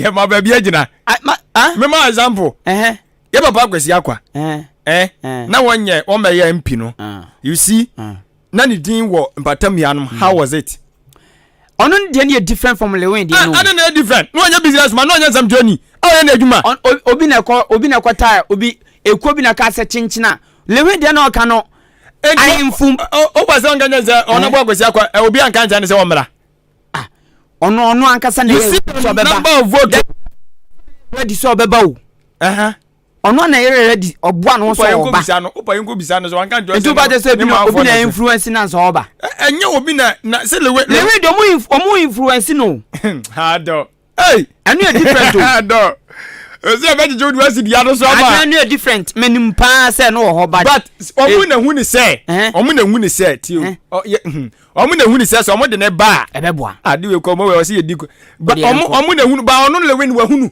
Yɛ ma baabi agyina. Mema example. Yɛ papa akwasi akwa. Eh, eh. Na wɔnyɛ wɔmɛyɛ mpi no. Ah. You see. Ah. na ne din wɔ mpatam nuanom hmm. how was it. ɔno ne deɛ no yɛ different from lewin deɛ ah, no. ɛna na yɛ different na ɔnyɛ business man na ɔnyɛ nsɛm joni a ɔyɛ n'adwuma. obi na ɛkɔ obi na ɛkɔ taa obi ekuo bi na ɛka sɛ kyenkyena lewin deɛ na ɔka no ahemfo. o ba sɛ ɔnka nyɛ sɛ ɔno bɔ akwasi akɔ eh, obi anka nkyɛn ne sɛ ɔmmra. Ah, ɔno ɔno ankasa na yɛ sɛ ɔbɛba. you see the number of votes. wadi sɛ ɔbɛba o. Ɔno na yere redi ɔboa no sɛ ɔba. Bisa no, opa yɛn kɔ bisa no sɛ wanka nkyɛn sɛ. Nti wobɛgye sɛ bi na obi na influence na sɛ ɔba. Ɛnyɛ obi na na sɛ lewe. Lewe de ɔmo ɔmo influence no. Ha dɔ. Hey. Ɛno yɛ different o. Ha dɔ. Ɛsɛ ɛbɛgyegye wodi wasi dua no so ama. Adan no yɛ different. Menim paa sɛ no wɔ hɔ ba. But ɔmo eh. na hu ne sɛ. Eh. Ɔmo na hu ne sɛ ti o. Eh. Hmm. Ɔmo na hu ne sɛ sɛ ɔmo de ne ba. Ɛbɛboa. Ade wei kɔ ɔmo wɛ ɔsi yɛ di ko. Ɔmo ɔmo na hu ba ɔno lewe ne wahunu.